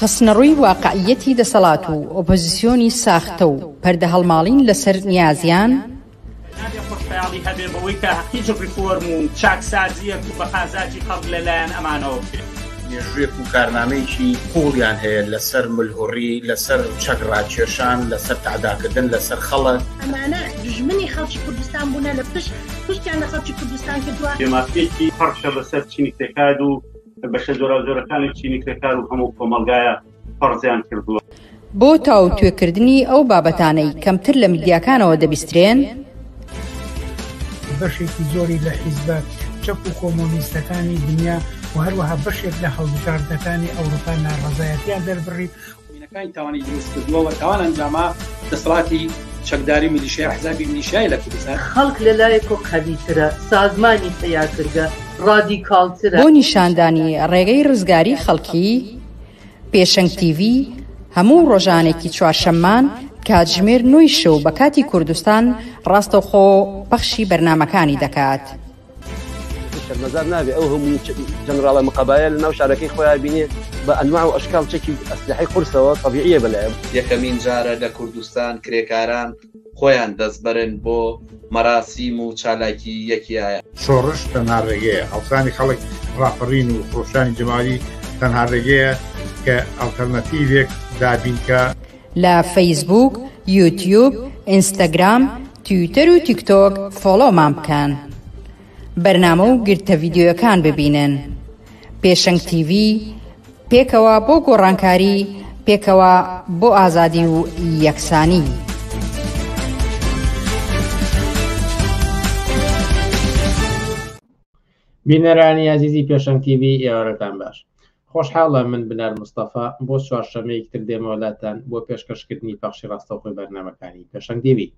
خستنەڕووی واقعییەتی دەسەڵات و ئۆپۆزیسیۆنی ساختە و پەردەهەڵماڵین لەسەر نیازیان، مێژووێک و کارنامەیەکی قووڵیان هەیە لەسەر ملهوڕی، لەسەر چەک ڕاکێشان، لەسەر تەعداکردن لەسەر خەڵک. ئەمانە دوژمنی خەڵکی کوردستان بوونە لە پشت پشتیان لە خەڵکی کوردستان کردووە. بەشە جۆراوجۆرەکانی چینی کرێکار و هەموو کۆمەڵگایە فەرزیان کردووە. بۆ تاوتوێکردنی ئەو بابەتانەی کەمتر لە میدیاکانەوە دەبیسترێن، بەشێکی زۆری لە حیزبە چەپ و کۆمۆنیستەکانی دنیا و هەروەها بەشێک لە هەڵبژاردنەکانی ئەوروپا ناڕەزایەتیان دەربڕی، مینەکانی تاوانی دروست کردوە و تاوان ئەنجاما دەسەڵاتی چەکداری میلیشیا حزابی میلیشیای لە کوردستان. خەڵک لە لایەکۆ قەوی ترە، سازمانی پەیاکرگە ڕادیکاڵ ترە. بۆ نیشاندانی ڕێگەی ڕزگاری خەڵکی، پێشەنگ تیڤی هەموو ڕۆژانێکی چوارشەممان کاتژمێر نۆی شەو بە کاتی کوردستان ڕاستەوخۆ پەخشی بەرنامەکانی دەکات. شەرمەزار نابێ ئەو هەموو جەنراڵە مقابایە لە ناو شارەکەی خۆیان بینێ بە ئەنواع و ئەشکال چەکی ئەسلحەی قورسەوە طبیعیە بەلایە یەکەمین جارە لە کوردستان کرێکاران خۆیان دەستبەرن بۆ مەراسیم و چالاکی یەکیایە. شۆڕش تەنها ڕێگەیە، هەڵسانی خەڵک، ڕاپەڕین و خرۆشانی جەماوەری تەنها ڕێگەیە کە ئەڵتەرناتیڤێک دابینکا. لە فەیسبووک، یوتیوب، ئینستاگرام، تویتەر و تیکتۆک فۆڵۆمان بکەن. بەرنامە و گرتە ڤیدیۆیەکان ببینن. پێشەنگ تیڤی، پێکەوە بۆ گۆڕانکاری، پێکەوە بۆ ئازادی و یەکسانی. بینەرانی ئازیزی پێشەنگ تیڤی ئێوارەتان باش. خۆشحاڵە من بنار مستەفا بۆ چوارشەمەیەک تر دێمەوە لاتان بۆ پێشکەش کردنی پەخشی ڕاستەوخۆی بەرنامەکانی پێشەنگ دیوی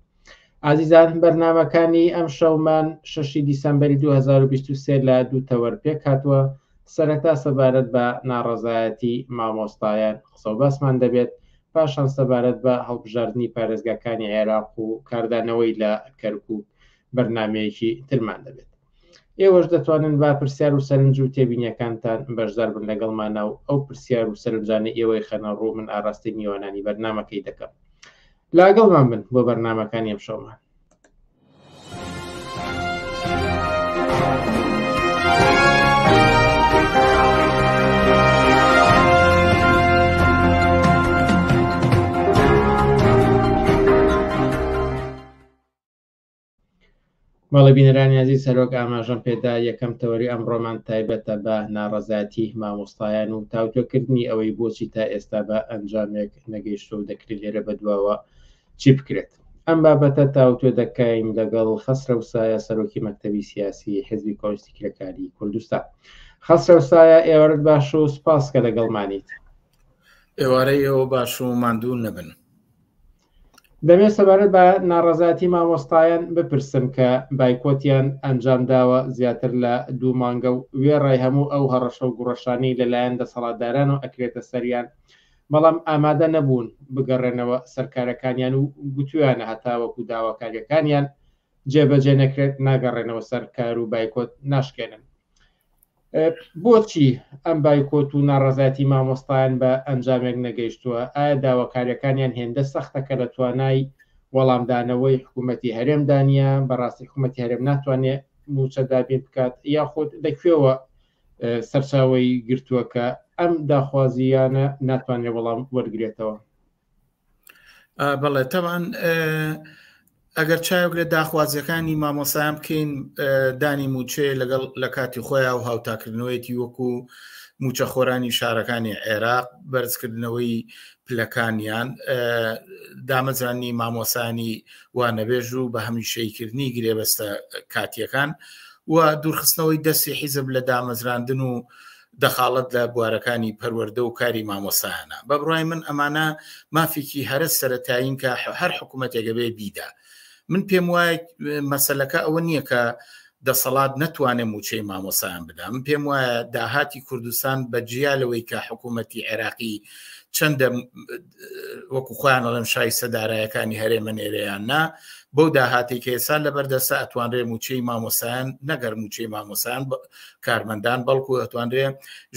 ئازیزان بەرنمەکانی ئەم شەومان شەشی دیسمبری 2023 لە دوو تەوەر پێک هاتووە سەرەتا سەبارەت بە ناڕەزایەتی مامۆستایان قسە باسمان دەبێت پاشان سەبارەت بە هەڵبژاردننی پارێزگاکانی عێراق و کاردانەوەی لە کەرکک بەرنمەیەکی ترمان دەبێت ئێوەش دەتوانن با پرسیار و سەرنج و تێبینیەکانتان بەشدار بن لەگەڵمانە و ئەو پرسیار و سەرنجانە ئێوەی خەنە ڕوو من ئاڕاستی میوانانی بەرنمەکەی دەکەم لاگەڵمان بن بۆ بەرنمەکانی ئەم شەومان بەڵێ بینەرانی ئازیز سەرۆک ئاماژەم پێدا یەکەم تەوەری ئەم ڕۆمان تایبەتە بە ناڕەزاتی مامۆستایان و تاوتۆکردنی ئەوەی بۆچی تا ئێستا بە ئەنجامێک نەگەیشتۆ و دەکرێت لێرە بەدواوە چی بکرێت ئەم بابەتە تاوتۆ دەکەین لەگەڵ خەسرە و سایە سەرۆکی مەکتتەبی سیاسی حزبی کۆنستی کرێکاری کوردستان خەسرە و سایە ئێوارت باش و سپاس کە لەگەڵمانیت ئێوارەی ئێوە باش و ماندوو نەبن دەمەوێت سەبارەت بە ناڕەزایەتی مامۆستایان بپرسم کە بایکۆتیان ئەنجام داوە زیاتر لە دوو مانگە و وێڕای هەموو ئەو هەڕەشە و گوڕەشانی لەلایەن دەسەڵاتداران و ئەکرێتە سەریان بەڵام ئامادە نەبوون بگەڕێنەوە سەرکارەکانیان و گوتویانە هەتاوەکو داواکاریەکانیان جێبەجێ نەکرێت ناگەڕێنەوە سەر کار و بایکۆت ناشکێنن بۆچی ئەم بایکۆت و ناڕەزایەتی مامۆستایان بە ئەنجامێک نەگەیشتووە؟ ئایا داواکاریەکانیان هێندە سەختە کە لە توانای وەڵامدانەوەی حکوومەتی هەرێمدا نییە؟ بەڕاستی حکوومەتی هەرێم ناتوانێ مووچە دابین بکات یاخود لە کوێوە سەرچاوەی گرتووە کە ئەم داخوازییانە ناتوانێ وەڵام وەرگرێتەوە؟ بەڵێ تەوان ئەگەر چاوگرێت داخوازیەکانی مامۆسایان بکەین دانی موچێ لەگەڵ لە کاتی خۆیان و هاوتاکردنەوەیەتی وەکو موچەخۆرانی شارەکانی عێراق بەرزکردنەوەی پلەکانیان دامەزرانی مامۆسانی وانەبێژ و بە هەمیشەیکردنی گرێبەستە کاتیەکان و دوورخستنەوەی دەستی حیزب لە دامەزراندن و دەخاڵەت لە بوارەکانی پەروەردە و کاری مامۆستایانە، بە بڕای من ئەمانە مافێکی هەرە سەرەتایین کە هەر حکوومەتێک ئەبێ بیدا. من پێم وایە مەسەلەکە ئەوە نییە کە دەسەڵات نەتوانێ مووچەی مامۆستایان بدا، من پێم وایە داهاتی کوردستان بە جیا لەوەی کە حکوومەتی عێراقی چەندە وەکو خۆیان ئەڵێن شای سەدارایەکانی هەرێمە نێرەیان نا بەو داهاتی کە ئێسان لە بەردەسە ئەتوانرێ موچەی مامۆسایان نەگەر موچەی مامۆسان کارمەندان بەڵکو ئەتوانرێ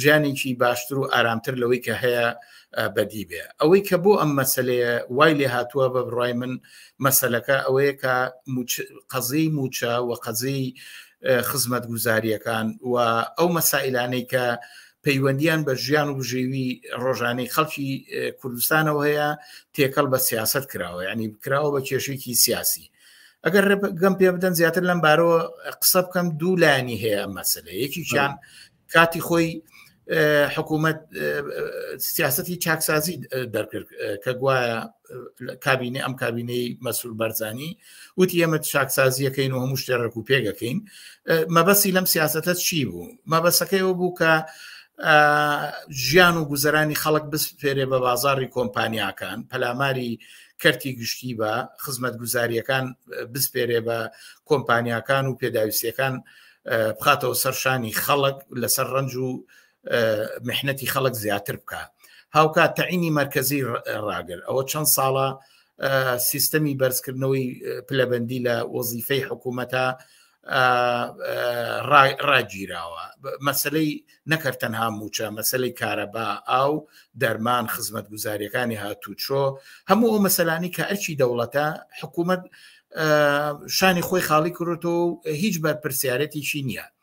ژیانێکی باشتر و ئارامتر لەوەی کە هەیە بەدی بێ ئەوەی کە بۆ ئەم مەسلەیە وای لێ هاتووە بە بڕای من مەسلەکە ئەوەیە کە قەزیی موچە و قەزیی خزمەت گوزاریەکان و ئەو مەسائلانەی کە پەیوەندیان بە ژیان و بژێوی ڕۆژانەی خەڵکی کوردستانەوە هەیە تێکەڵ بە سیاست کراوە ینی بکراوە بە کێشێکی سیاسی ئەگەر ڕێگەم پێ بدەن زیاتر لەم بارەوە قسە بکەم دوو لایانی هەیە مەسلە یەکیان کاتی خۆی حکوومەت سیاستی چاکسازی دەرکرد کە گوایە کابینە ئەم کابینەی مەسول بەرزانی وتی ئێمە چاکسازیەکەین و هەموو شتێ ڕێکو پێگەکەین مەبەسی لەم سیاستە چی بوو مەبەسەکەی ئەو بوو کە ژیان و گوزەرانی خەڵک بسپێرێ بە بازاری کۆمپانیاکان پەلاماری کەرتی گشتی بە خزمەت گوزاریەکان بسپێرێ بە کۆمپانیاکان و پێداویستەکان بخاتەوە سەرشانی خەڵک لەسەر ڕنج و محنەتی خەڵک زیاتر بکە هاوکات تەعینی مرکزی ڕاگر ئەوە چەند ساڵە سیستەمی بەرزکردنەوەی پلەبندی لە وەزیفەی حکوومەتە ڕاگیراوە مەسلەی نەکرد تەنها موچە مەسلەی کارەبا ئاو دەرمان خزمەت گوزاریەکانی هاتوچۆ هەموو ئەو مەسەلانی کە ئەرچی دەوڵەتە حکوومەت شانی خۆی خاڵی کردۆ و هیچ بەرپرسیارەتیشی نییە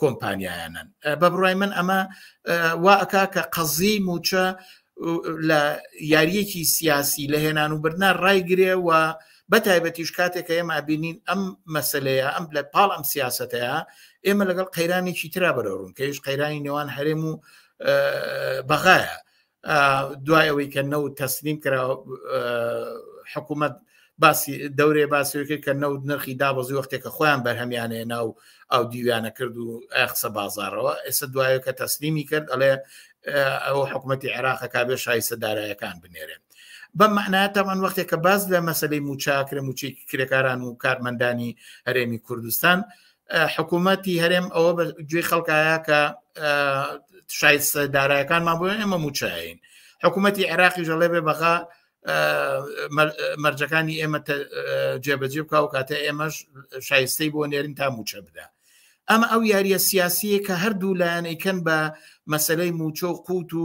کۆمپانیایانن بە بڕای من ئەمە وا ئەکا کە قەزی موچە لە یاریەکی سیاسی لە هێنان و بردنا ڕایگرێ و بە تایبەتیش کاتێکە ئێمە بینین ئەم مەسلەیە ئەم لە پاڵ ئەم سیاستەیە ئێمە لەگەڵ قەیرانێکی ترا بەرەڕوون کەش قەیرانی نێوان هەرێم و بەغایە دوای ئەوەی کە نەوت تەسلیم کرا حکوومەت باسی دەورێ باسەوەی کرد کە نەوت نرخی دابەزی وەختێکە خۆیان بەرهەمیانێ ناو ئەو دیویانە کرد و قسە بازارەوە ئێستا دوایە کە تەسلیمی کرد ئەڵێ ئەو حکوومەتتی عێراقە کابێ شایسە دارایەکان بنێرێن بە معناتەمان وەختێک کە باز لە مەسلەی موچاکرێ موچێکی کرێکاران و کارمەندانی هەرێمی کوردستان حکوومەتی هەرێم ئەوە بە گوێی خەڵکایە کە شایست دارایەکانمان بۆ ئێمە موچین حکوومەتی عێراقی ژەڵێ بێ بەغا مەرجەکانی ئێمە جێبەجێ بکە و کاتە ئێمەش شایستەی بۆ نێرین تا موچە بدا ئەمە ئەو یاریە سیاسیە کە هەردوو لایەنەیکەن بە مەسلەی موچە و قووت و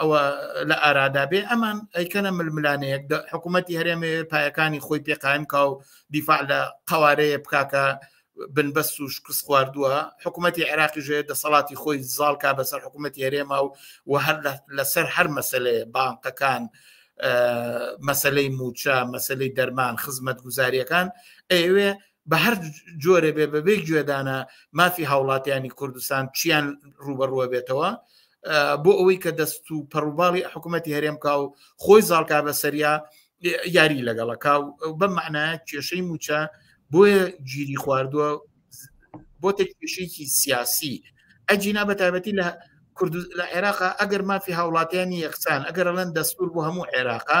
ئەوە لە ئارادا بێ ئەمان ئەیکەنە ململانەیەک حکوومەتتی هەرێمێ پایەکانی خۆی پێقایم کا و دیفاع لە قوارەیە بکاکە بنبەست و شکست خواردووە حکوومەتتی عێراقی ژێ دەسەڵاتی خۆی زاڵکە بەسەر حکوومەتتی هەرێما و و هەر لەسەر هەر مەسلەیە بانقەکان مەسلەی موچە مەسلەی دەرمان خزمەت گوزاریەکان ئەوێ بە هەر جۆرە بێ بەبێ گوێدانە مافی هاوڵاتیانی کوردستان چیان ڕوبەڕوە بێتەوە بۆ ئەوەی کە دەست و پەڕوباڵی حکوومەتتی هەرێمکە و خۆی زاڵکا بە سەریا یاری لەگەڵەکە و بە معناە کێشەی موچە بۆیە گیری خواردووە بۆ تێکێشێکی سیاسی ئەجینا بە تایبەتی لە کوردز لە عێراقا ئەگەر مافی هاوڵاتیانی یەکسان ئەگەر ئەلەن دەستور بۆ هەموو عێراقا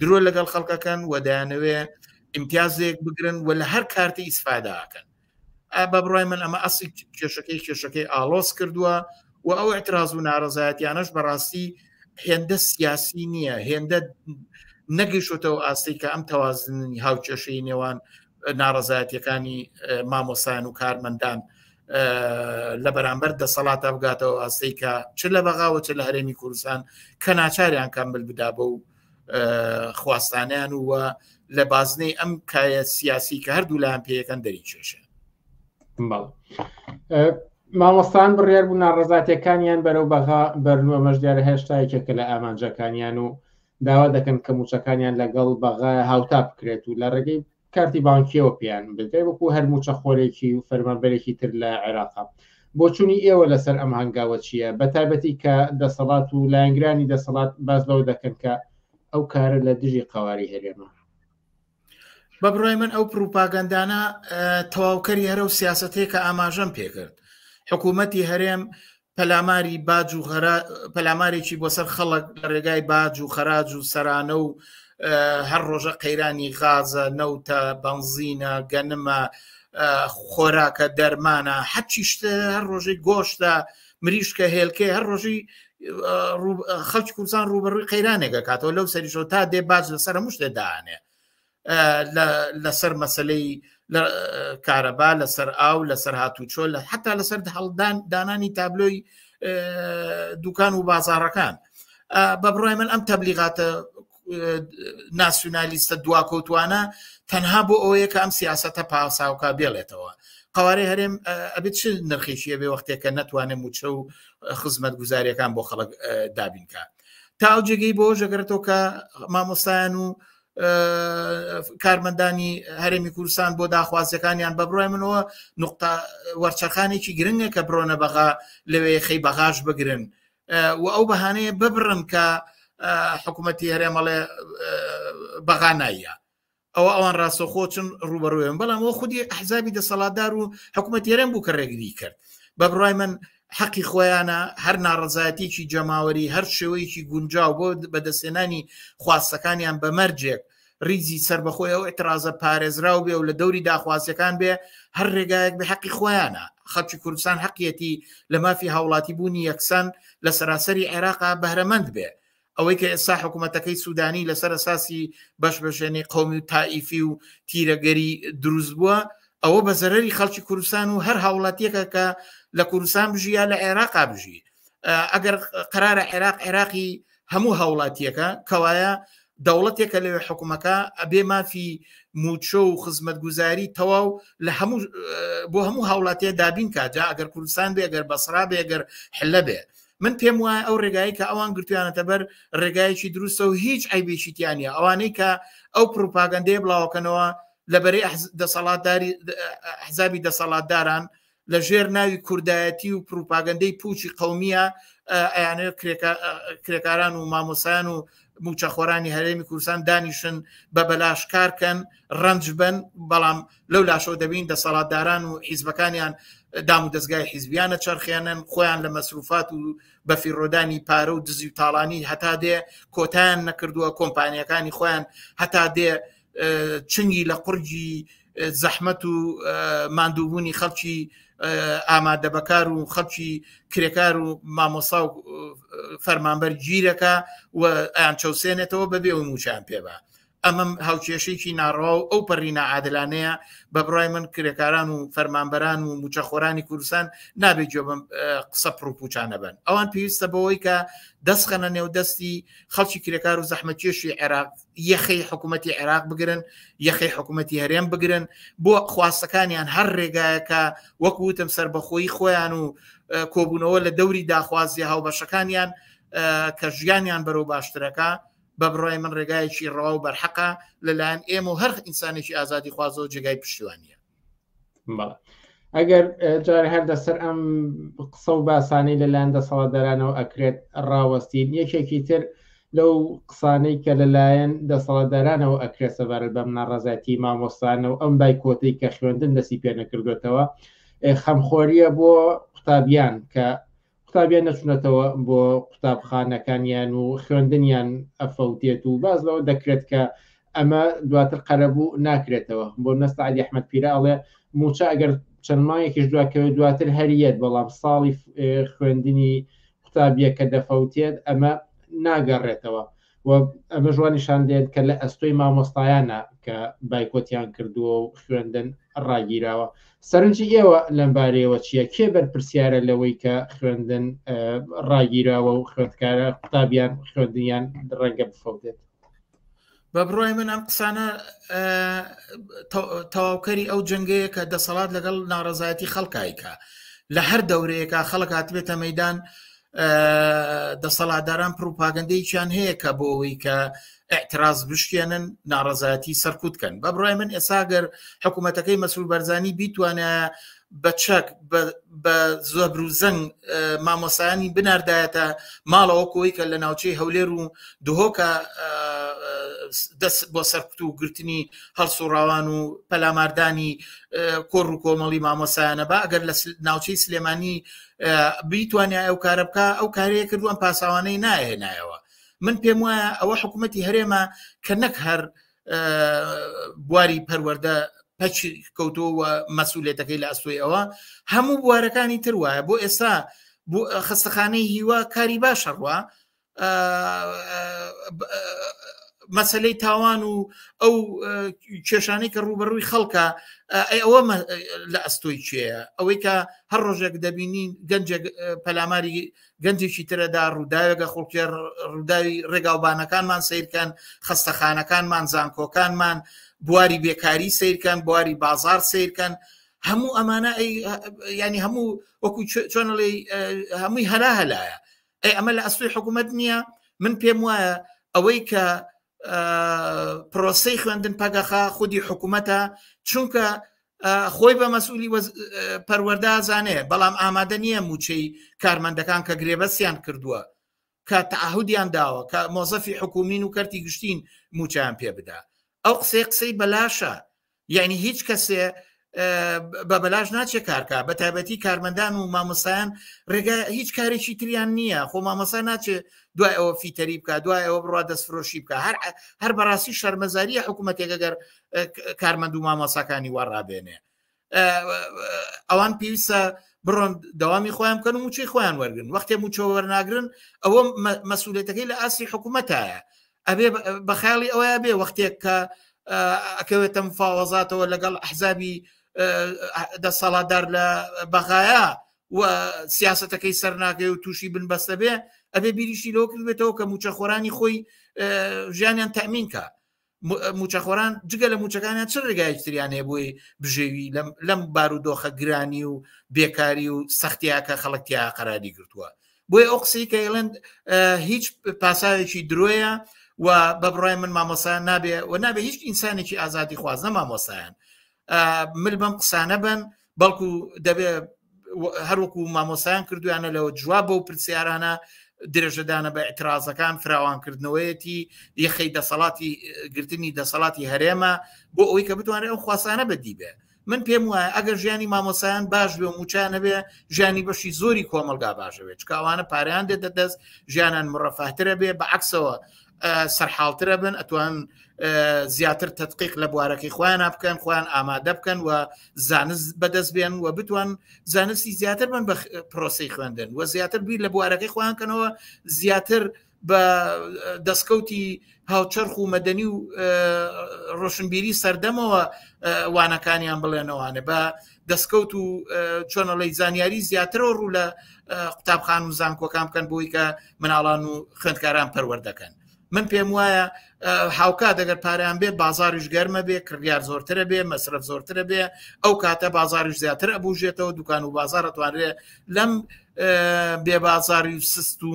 درۆ لەگەڵ خەڵکەکەن و دەیانەوێ ئیمتیازێک بگرن و لە هەر کارتی ئیسفاداکەن بە بڕای من ئەمە ئەسی کێشەکەی کێشەکەی ئالۆس کردووە و ئەو اعتراز و ناڕزایەتیانەش بەڕاستی هێندە سیاسی نییە هێندە نەگەیشتەوە ئاستی کە ئەم تەوازنی هاوکێشەی نێوان ناڕزایەتەکانی مامۆسایان و کارمەندان لە بەرامبەر دەسەڵاتە بگاتەوە ئاستی کە چ لە بەغاوە چ لە هەرێمی کوردستان کە ناچاریان کەمبل بدابە و خواستانیان و لە بازنەی ئەم کایە سیاسی کە هەردوو لایەن پێەکەن دەری کێشە مامۆستان بڕیار بوو ناڕزاتەکانیان بەرەو بەغا بەرنوە مەشدارە هێشتا یەکێکە لە ئامانجەکانیان و داوا دەکەن کە موچەکانیان لەگەڵ بەغا هاوتا بکرێت و لە ڕێگەی کارتی بانکیەوە پێیان بدرێت وەکو هەر مووچەخۆرێکی و فەرمانبەرێکی تر لە عێراقە. بۆچوونی ئێوە لەسەر ئەم هەنگاوە چییە، بەتایبەتی کە دەسەڵات و لایەنگرانی دەسەڵات باس لەوە دەکەن کە ئەو کارە لە دژی قەواری هەرێمە؟ بە بڕای من ئەو پروپاگەندانە تەواوکەری هەرە و سیاستەیە کە ئاماژەم پێکرد حکوومەتی هەرێم پەلاماری باج و پەلامارێکی بۆ سەر خەڵک لە ڕێگای باج و خەراج و سەرانە و هەر ڕۆژە قەیرانی غازە نەوتە بەنزینە گەنمە خۆراکە دەرمانە حەچی شتە هەر ڕۆژەی گۆشتە مریشکە هێلکەی هەر ڕۆژی خەڵکی کوردستان ڕوبەڕووی قەیرانێکە کاتەوە لەو سەریشەوە تا دێ باج لەسەر مشتێ دانێ لەسەر مەسلەی کارەبا لەسەر ئاو لەسەر هاتوچۆ لە حتا لەسەر هەڵدان دانانی تابلۆی دوکان و بازارەکان بە بڕای من ئەم تەبلیغاتە ناسیونالیستە دواکەوتوانە تەنها بۆ ئەوەیە کە ئەم سیاستە پاساوکە بێڵێتەوە قوارەی هەرێم ئەبێت چ نرخێکیە بێ وەختێکە ناتوانێت موچە و خزمەت گوزاریەکان بۆ خەڵک دابینکە تا ئەو جێگەی بۆ ژەگرێتەوە کە مامۆستایان و کارمەندانی هەرێمی کوردستان بۆ داخوازیەکانیان بە بڕای منەوە نقطە وەرچەخانێکی گرنگە کە برۆنە بەغا لەوێ خەی بەغاش بگرن و ئەو بەهانەیە ببڕن کە حکوومەتتی هەرێمەڵێ بەغا نایە ئەوە ئەوان ڕاستەخۆ چون ڕوبەڕوێن بەڵام ئەو خودی حزابی دەسەڵاتدار و حکوومەت یێرم بوو کە ڕێگری کرد بە بڕای من حەقی خۆیانە هەر ناڕزایەتێکی جەماوەری هەر شێوەیەکی گونجاو بۆ بەدەستێنانی خواستەکانیان بەمەرجێک ریزی سربەخۆی ئەو اعترازە پارێزراو بێ و لە دەوری داخوازیەکان بێ هەر ڕێگایەک بە حەقی خۆیانە خەڵکی کوردستان حەقیەتی لە مافی هاوڵاتی بوونی یەکسان لە سەراسەری عێراقا بەرەمەند بێ ئەوەی کە ئێستا حکوومەتەکەی سوودانی لەسەر ئەساسی بەشبژێنی قومی و تائیفی و تیرەگەری دروست بووە ئەوە بە زەرری خەڵکی کوردستان و هەر هاوڵاتیەکە کە لە کوردستان بژیە لە عێراقا بژی ئەگەر قرارە عێراق عێراقی هەموو هاوڵاتیەکە کەوایە دەوڵەتێکە لەوێ حکومەکە ئەبێ مافی موچۆ و خزمەت گوزاری تەواو لە هەموو بۆ هەموو هاوڵاتیە دابین کاجا ئەگەر کوردستان بێگەر بەسرا بێگەر حلە بێ من پێم وایە ئەو ڕێگایی کە ئەوان گرتویانەتە بەر ڕێگایەکی دروستە و هیچ ئەیبێکیتیانە ئەوانەی کە ئەو پروپاگەندەیە بڵاوکەنەوە لەبەری دەسەڵاتداری حزابی دەسەڵاتداران لە ژێر ناوی کوردایەتی و پروپاگەندەی پوچی قومیە ئەیانێ کرێکاران و مامۆسایان و موچەخۆرانی هەرێمی کوردستان دانیشن بە بەلاشکارکەن ڕنج بن بەڵام لەو لاشەوە دەبین دەسەڵاتداران و حیزبەکانیان دام و دەستگای حیزبیانە چرخێنن خۆیان لە مەسروفات و بەفیڕۆدانی پارە و دزی و تاڵانی هەتا دێ کۆتان نەکردووە کۆمپانیەکانی خۆیان هەتا دێ چنگی لە قورگی زەحمەت و مادووبوونی خەڵکی ئامادە بەکار و خەڵکی کرێکار و مامۆسا و فەرمانبەر گیرەکە و ئەیان چەوسێنێتەوە بەبێ و موچیان پێبە ئەمەم هاوکێشێکی ناڕەوا و ئەو پەڕی نەعادلانەیە بە بڕای من کرێکاران و فەرمانبەران و موچەخۆرانی کوردستان نابێت جۆ بم قسە پرڕوپوچانە بن ئەوان پێویستە بەوەی کە دەستخەنە نێو دەستی خەڵکی کرێکار و زەحمەتێشی عێراق یەخی حکوومەتتی عێراق بگرن یەخی حکوومەتتی هەرێم بگرن بۆ خواستەکانیان هەر ڕێگایەکە وەکوتم سربەخۆی خۆیان و کۆبوونەوە لە دەوری داخوازی هاوبەشەکانیان کە ژیانیان بەرەو باشترەکە بە بڕای من ڕێگایەکی ڕەوا و بەرحەقە لەلایەن ئێم و هەرخ ئینسانێکی ئازادی خوازەوە جێگای پشتیوانە ئەگەر جار هەر دەسەر ئەم قسە و باسانەی لەلایەن دەسەڵاتدارانەوە ئەکرێت ڕاوەستین یەکێکی تر لەو قسانەی کە لەلایەن دەسەڵاتدارانەوە ئەکرێت سەبارەت بەم ناڕازایەتی مامۆستانە و ئەم بایکۆتی کە خوێندن دەسی پێ نەکردوێتەوە خەمخۆریە بۆ قوتابیان کە قوتابیان نەچونەتەوە بۆ قوتابخانەکانیان و خوێندنیان ئەفەوتێت و باز لەوە دەکرێت کە ئەمە دواتر قەرەبوو ناکرێتەوە بۆ نەستا علی ئەحمد پیرە ئەڵێ موچە ئەگەر چەند مایەکیش دواکەوێت دواتر هەریەت بەڵام ساڵی خوێندنی قوتابیەکە دەفەوتێت ئەمە ناگەڕێتەوە و ئەمە ژوان نیشان دێت کە لە ئەستۆی مامۆستایانە کە بایکۆتیان کردووە و خوێندن ڕاگیراوە سەرنجی ئێوە لەمبارەیەوە چییە کێ بەرپرسیارە لەوەی کە خوێندن ڕاگیراوە و خوێندکارە قوتابیان خوێندنیان ڕەنگە بفەوتێت بە بڕای من ئەم قسانە تەواوکەری ئەو جنگەیە کە دەسەڵات لەگەڵ ناڕزایەتی خەڵکایکە لە هەر دەورەیەکە خەڵک هاتبێتە مەدان دەسەڵاتداران پروپاگەندەیەکیان هەیە کە بۆ ئەوەی کە اعتراز بشکێنن ناڕزایەتی سەرکوت کەن بە بڕای من ئێساگەر حکوومەتەکەی مەسرور بەرزانی بیتوانە بە چەک بە زۆبر و زەنگ مامۆسایانی بناردایەتە ماڵەوە کۆی کە لە ناوچەی هەولێر و دهۆکە دەست بۆ سەرکوت و گرتنی هەڵسوڕاوان و پەلاماردانی کۆڕ و کۆمەڵی مامۆسایانە بە ئەگەر لە ناوچەی سلێمانی بیتوانیا ئەو کارە بکە ئەو کارەیە کردووان پاساوانەی ناهێنایەوە من پێم وایە ئەوە حکوومەتتی هەرێمە کە نەک هەر بواری پەروەەردە پچ کەوتۆ و مەسوولێتەکەی لە ئەستۆی ئەوە هەموو بوارەکانی تر وایە بۆ ئێستا خستەخانەی هیوا کاری باشەڕوە مەسلەی تاوان و ئەو کێشانەی کە ڕوبەڕووی خەڵکە ئەی ئەوە لە ئەستۆی چێە ئەوەی کە هەر ڕۆژێک دەبینین گەنجێک پەلاماری گەنجێکی ترەدا ڕووداوێگە خڵکی ڕووداوی ڕێگاوبانەکانمان سیرکەن خستەخانەکانمان زانکۆکانمان بواری بێکاری سیرکەن بواری بازار سیرکەن هەموو ئەمانە ینی هەموو وەکو چۆنڵی هەمووی هەلا هەلایە ئەی ئەمە لە ئەستۆی حکوومەت نییە من پێم وایە ئەوەی کە پرۆسی خوێندن پەگەخە خودی حکوومەتە چونکە خۆی بە مەسئولی پەروەەردازانێ بەڵام ئامادە نییە موچەی کارمەندەکان کە گرێبەسیان کردووە کە تاهودیان داوە کە مۆزەفی حکومین و کەرتی گشتین موچیان پێ بدا ئەو قسەی قسەی بەلاشە یعنی هیچ کەسێ بە بەلاش ناچێت کارکە بە تایبەتی کارمەندان و مامۆسایان ڕێگا هیچ کارێکی تریان نییە خۆ مامۆسا ناچێت دوای ئەوە فیتەری بکە دوای ئەوە بڕوا دەستفرۆشی بکە هەر هەر بەڕاستی شەرمەزاریە حکوومەتێک گەر کارمەند و مامۆساکانی وەڕابێنێ ئەوان پێویستە بڕۆن داوامی خۆیان بکەن و موچەی خۆیان وەرگن وەختێ موچەوە وەرناگرن ئەوە مەسوولێتەکەی لە ئاسی حکوومەتایە ئەبێ بە خیاڵی ئەوەیە بێ وەختێک کە ئەکەوێتە مفاوەزاتەوە لەگەڵ ئەحزابی دەسەڵاتدار لە بەغایە و سیاستەکەی سەرناگەی و تووشی بنبەستە بێ ئەبێ بیریشی لەو کردێتەوە کە موچەخۆرانی خۆی ژیانیان تەمینکە موچەخۆران جگە لە موچەکانیان چ ڕێگایتریان هەیە بۆی بژێوی لەم بارودۆخە گرانی و بێکاری و سەختیاکە خەڵکتیا قەراری گرتووە بۆی ئەو قسەی کە ئێڵند هیچ پاساوێکی درۆیە و بە بڕای من مامۆسایان نابێ و نابێ هیچ ئینسانێکی ئازادی خواز نە مامۆسایان مل بەم قسانە بن بەڵکو دەبێ هەروەکو مامۆسایان کردویانە لەوە جواب بەو پرسیارانە درێژەدانە بە ئەترازەکان فراوانکردنەوەیەتی یەخەی دەسەڵاتی گرتنی دەسەڵاتی هەرێمە بۆ ئەوی کە بتوانێت ئەو خواسانە بەدیبێ من پێم وایە ئەگەر ژیانی مامۆسایان باش بێ و موچیان نەبێ ژیانی بەشی زۆری کۆمەلگا باشەوێت چکاوانە پاریان دێتە دەست ژیانان مڕەفاترە بێ بە عکسەوە سەرحاڵترە بن ئەتوان زیاتر تدقیق لە بوارەکەی خۆیان بکەن خۆیان ئامادە بکەن و زانست بەدەست بێن و بتوان زانستی زیاتر بن بە پرۆسی خوێندن و زیاتر بیر لە بوارەکەی خۆیانکەنەوە زیاتر بە دەستکەوتی هاوچەرخ و مەدەنی و ڕۆشنبیری سەردەمەوە وانەکانیان بڵێنەوانێ بە دەستکەوت و چۆنەڵی زانیاری زیاترەوە ڕوو لە قوتابخان و زانکۆکان بکەن بۆی کە مناڵان و خوێندکاران پەروەردەکەن من پێم وایە هاوکا دەگەر پاریان بێ بازاریش گەرمە بێ کڕیار زۆرترە بێ مەسرف زۆرترە بێ ئەو کاتە بازاریش زیاتر ئەبووژێتەوە دوکان و بازارەتوانرێ لەم بێ بازاری سست و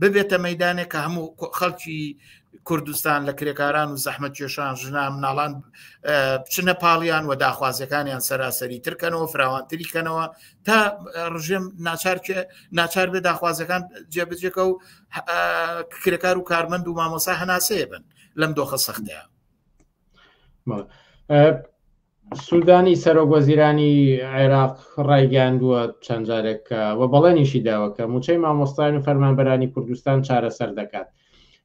ببێتە مەدانێک کە هەموو خەڵکی کوردستان لە کرێکاران و زەحمەت کێشان ژنا مناڵان بچنە پاڵیان و داخوازیەکانیان سەراسەری ترکەنەوە فراوانتری کەنەوە تا ڕژێم ناچار ناچار بێ داخوازەکان جێبجێکە و کرێکار و کارمەند و مامۆسا هەناسەیە بن لەم دۆخە سەختەیە سوودانی سەرۆک وەزیرانی عێراق ڕایگەاندووە چەند جارێکە و بەڵێنیشی داوەکە موچەی مامۆستایان و فەرمانبەرانی کوردستان چارەسەر دەکات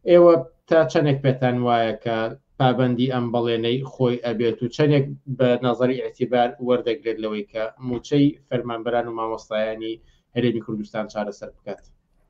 ئێوە تا چەندێک پێتان وایە کە پابندی ئەم بەڵێنەی خۆی ئەبێت و چەندێک بە نظری اعتیبار وەردەگرێت لەوەی کە موچەی فەرمانبەران و مامۆستایانی هەرێمی کوردستان چارەسەر بکات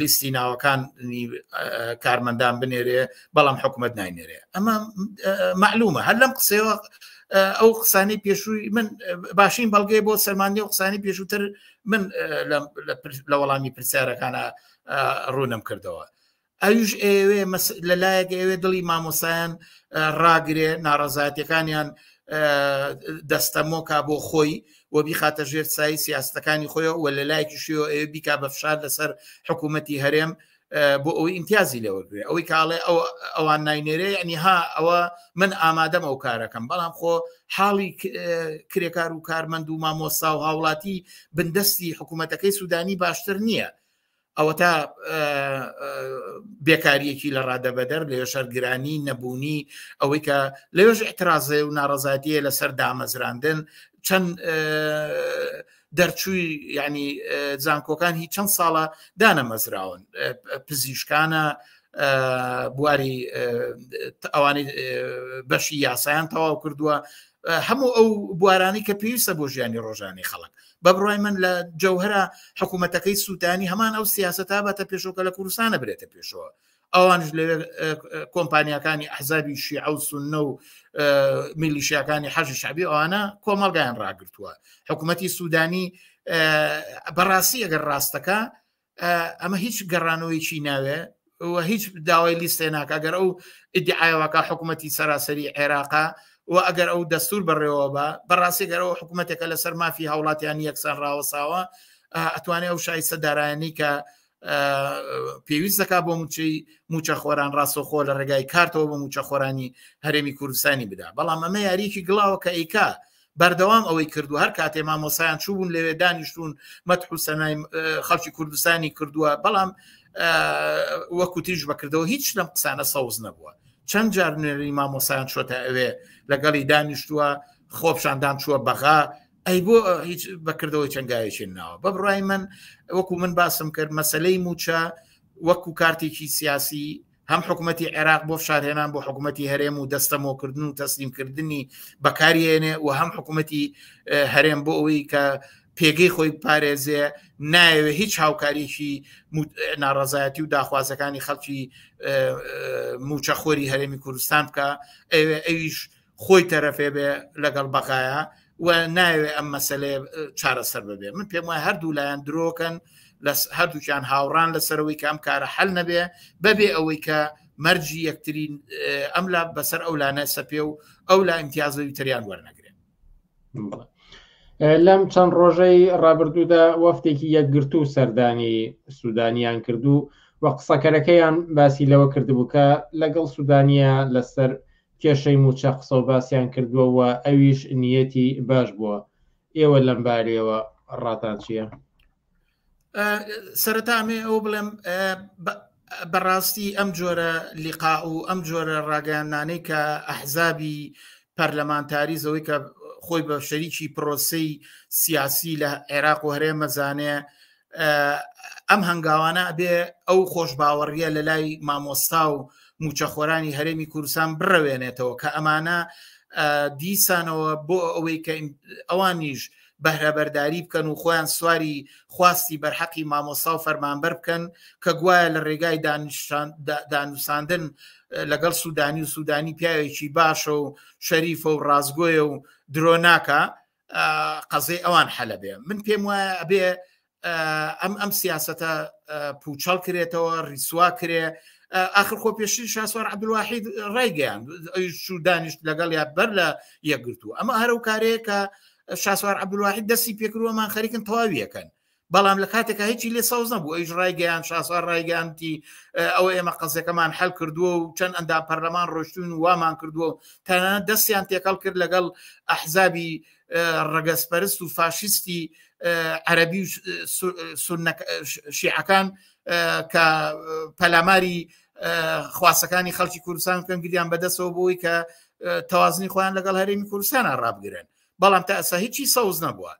لیستی ناوەکان کارمەندان بنێرێ بەڵام حکوومەت ناینێرێ ئەمە معلومە هەر لەم قسەوە ئەو قسانی پێشووی من باشین بەڵگەی بۆ سەرمانی و قسانی پێشووتر من لە وەڵامی پرسیارەکانە ڕوونم کردەوە ئەویش ئەوێ لە لایەک ئەوێ دڵی مامۆسایان ڕاگرێ ناڕەزاتەکانیان دەستەمۆکە بۆ خۆی و بیخاتە ژێر سایی سیاستەکانی خۆی و لە لایەکی شێوە ئەوێ بیکا بە فشار لەسەر حکوومەتتی هەرێم بۆ ئەوەی ئیمتیازی لێوەگرێ ئەوەی کاڵێ ئەو ئەوان ناینێرێ ینی ها ئەوە من ئامادەم ئەو کارەکەم بەڵام خۆ حاڵی کرێکار و کارمەند و مامۆسا و هاوڵاتی بندستی حکوومەتەکەی سوودانی باشتر نییە ئەوەتا بێکاریەکی لە ڕادەبەدەر لە شەرگرانی نەبوونی ئەوەی کە لەوێژ احترازێ و ناڕزاتیە لەسەر دامەزراندن چەند دەرچووی ینی زانکۆکان هی چەند ساڵە دانەمەزراون پزیشکانە بواری ئەوانی بەشی یاسایان تەواو کردووە هەموو ئەو بوارانی کە پێویستە بۆ ژیانی ڕۆژانی خەڵک بە بڕای من لە جەوهرە حکوومەتەکەی سووتانی هەمان ئەو سیاست تا بەتە پێشۆکە لە کوردستانە برێتە پێشەوە ئەوانش لە کۆمپانیەکانی ئەحزابی شیع و سنە و میلیشیەکانی حەژی شعبی ئەوانە کۆمەڵگایان ڕاگرتووە حکوومەتتی سوودانی بەڕاستی ئەگەر ڕاستەکە ئەمە هیچ گەڕانەوەیکی ناوێ و هیچ داوای لیستێ ناکە گەر ئەو ئیدعاەوەکە حکوومەتتی سەراسەری عێراقا و ئەگەر ئەو دەستور بەڕێوە بە بەڕاستی گەرەوە حکوومەتێکە لەسەر مافی هاوڵاتیان یەکسان ڕاوەساوە ئەتوانێت ئەو شایسە دارایانی کە پێویست دەکا بۆ موچەی موچە خۆران ڕاستەخۆ لە ڕێگای کارتەوە بە موچە خۆرانی هەرێمی کوردستانی بدا بەڵام ئەمە یاریکی گڵاوە کە ئیکا بەردەوام ئەوەی کردووە هەر کاتێ مامۆسایان چوبوون لەوێ دانیشتون مەتح و سەنای خەڵکی کوردستانی کردووە بەڵام وەکو تیژ بەکردەوە هیچ لەم قسانە سەوز نەبووە چەند جار نوێری مامۆسایان چۆتە ئەوێ لەگەڵی دانیشتووە خۆپشاندان چووە بەغا ئەی بۆ هیچ بەکردەوەی چەنگایەکی ناوە بە بڕای من وەکو من باسم کرد مەسلەی موچە وەکو کارتێکی سیاسی هەم حکوومەتتی عێراق بۆ فشارهێنان بۆ حکوومەتتی هەرێم و دەستەمۆکردن و تەسلیمکردنی بەکارێنێ و هەم حکوومەتتی هەرێم بۆ ئەوەی کە پێگەی خۆی پارێزێ نایەوێ هیچ هاوکاریشی ناڕزایەتی و داخوازەکانی خەڵکی موچەخۆری هەرێمی کوردستان بکە ئەویش خۆی تەرەفێ بێ لەگەڵ بەغایە و ناوێ ئەم مەسلێ چارەسەر ببێ من پێم وای هەردوو لایەن درۆکەن لە هەردووکیان هاوڕان لەسەرەوەی کام کارە حل نەبێ بەبێ ئەوەی کە مەرجی یەکترین ئەم لا بەسەر ئەو لانە سەپێ و ئەو لا ئیمتیازەوی تریان وەرنەگرێت لەم چەند ڕۆژەی ڕابردوودا وەفتێکی یەکگرتو و سەردانی سوودانیان کردو و قسەکەرەکەیان باسی لەوە کردبوو کە لەگەڵ سوودانە لەسەر کێشەی مووچە قسەو باسیان کردووە و ئەویش نیەتی باش بووە، ئێوە لەم بارەیەوە ڕاتان چییە؟ سەرەتا ئەمەوێ ئەوە بڵێم بەڕاستی ئەم جۆرە لیقا و ئەم جۆرە ڕاگەیاندنانەی کە ئەحزابی پەرلەمانتاریز ئەوەی کە خۆی بە شەریکی پرۆسەی سیاسی لە عێراق و هەرێم ئەزانێ ئەم هەنگاوانە ئەبێ ئەو خۆش باوەڕیە لە لای مامۆستا و موچەخۆرانی هەرێمی کوردستان بڕەوێنێتەوە کە ئەمانە دیسانەوە بۆ ئەوەی کە ئەوانیش بەهرەبەرداری بکەن و خۆیان سواری خواستی بەرحەقی مامۆسا و فەرمانبەر بکەن کە گوایە لە ڕێگای دانوساندن لەگەڵ سوودانی و سوودانی پیاوێکی باشە و شەریفە و ڕازگۆیە و درۆناکە قەزەی ئەوان حەلە بێ من پێم وایە ئەبێ ئەم ئەم سیاستە پوچەڵ کرێتەوە ریسوا کرێ آخر خۆ پێشتر شاسوار عبدواحید ڕێگەیان شو دانیشت لەگەڵ یا بەر لە یەکگرتو ئەمە هەرو کارەیە کە شاسوار عبدواحید دەستی پێکروەمان خەریکن تەواویەکەن بەڵام لە کاتێکا هیچی لێ سەوز نەبوو ئەوش ڕایگەیان شاسوار ڕایگەیانتی ئەوە ئێمە قەزەکەمان حل کردووە و چەند ئەندا پەرلەمان ڕۆشتون وامان کردووە و تەنە دەستیان تێکەڵ کرد لەگەڵ ئەحزابی ڕگەزپەرست و فاشیستی عەربی و شیعەکان کە پەلاماری خواسەکانی خەڵکی کوردستان بکەن گریان بەدەستەوە بۆی کە تەوازنی خۆیان لەگەڵ هەرێمی کوردستانە ڕابگرن بەڵام تا ئەسا هیچی سەوز نەبووە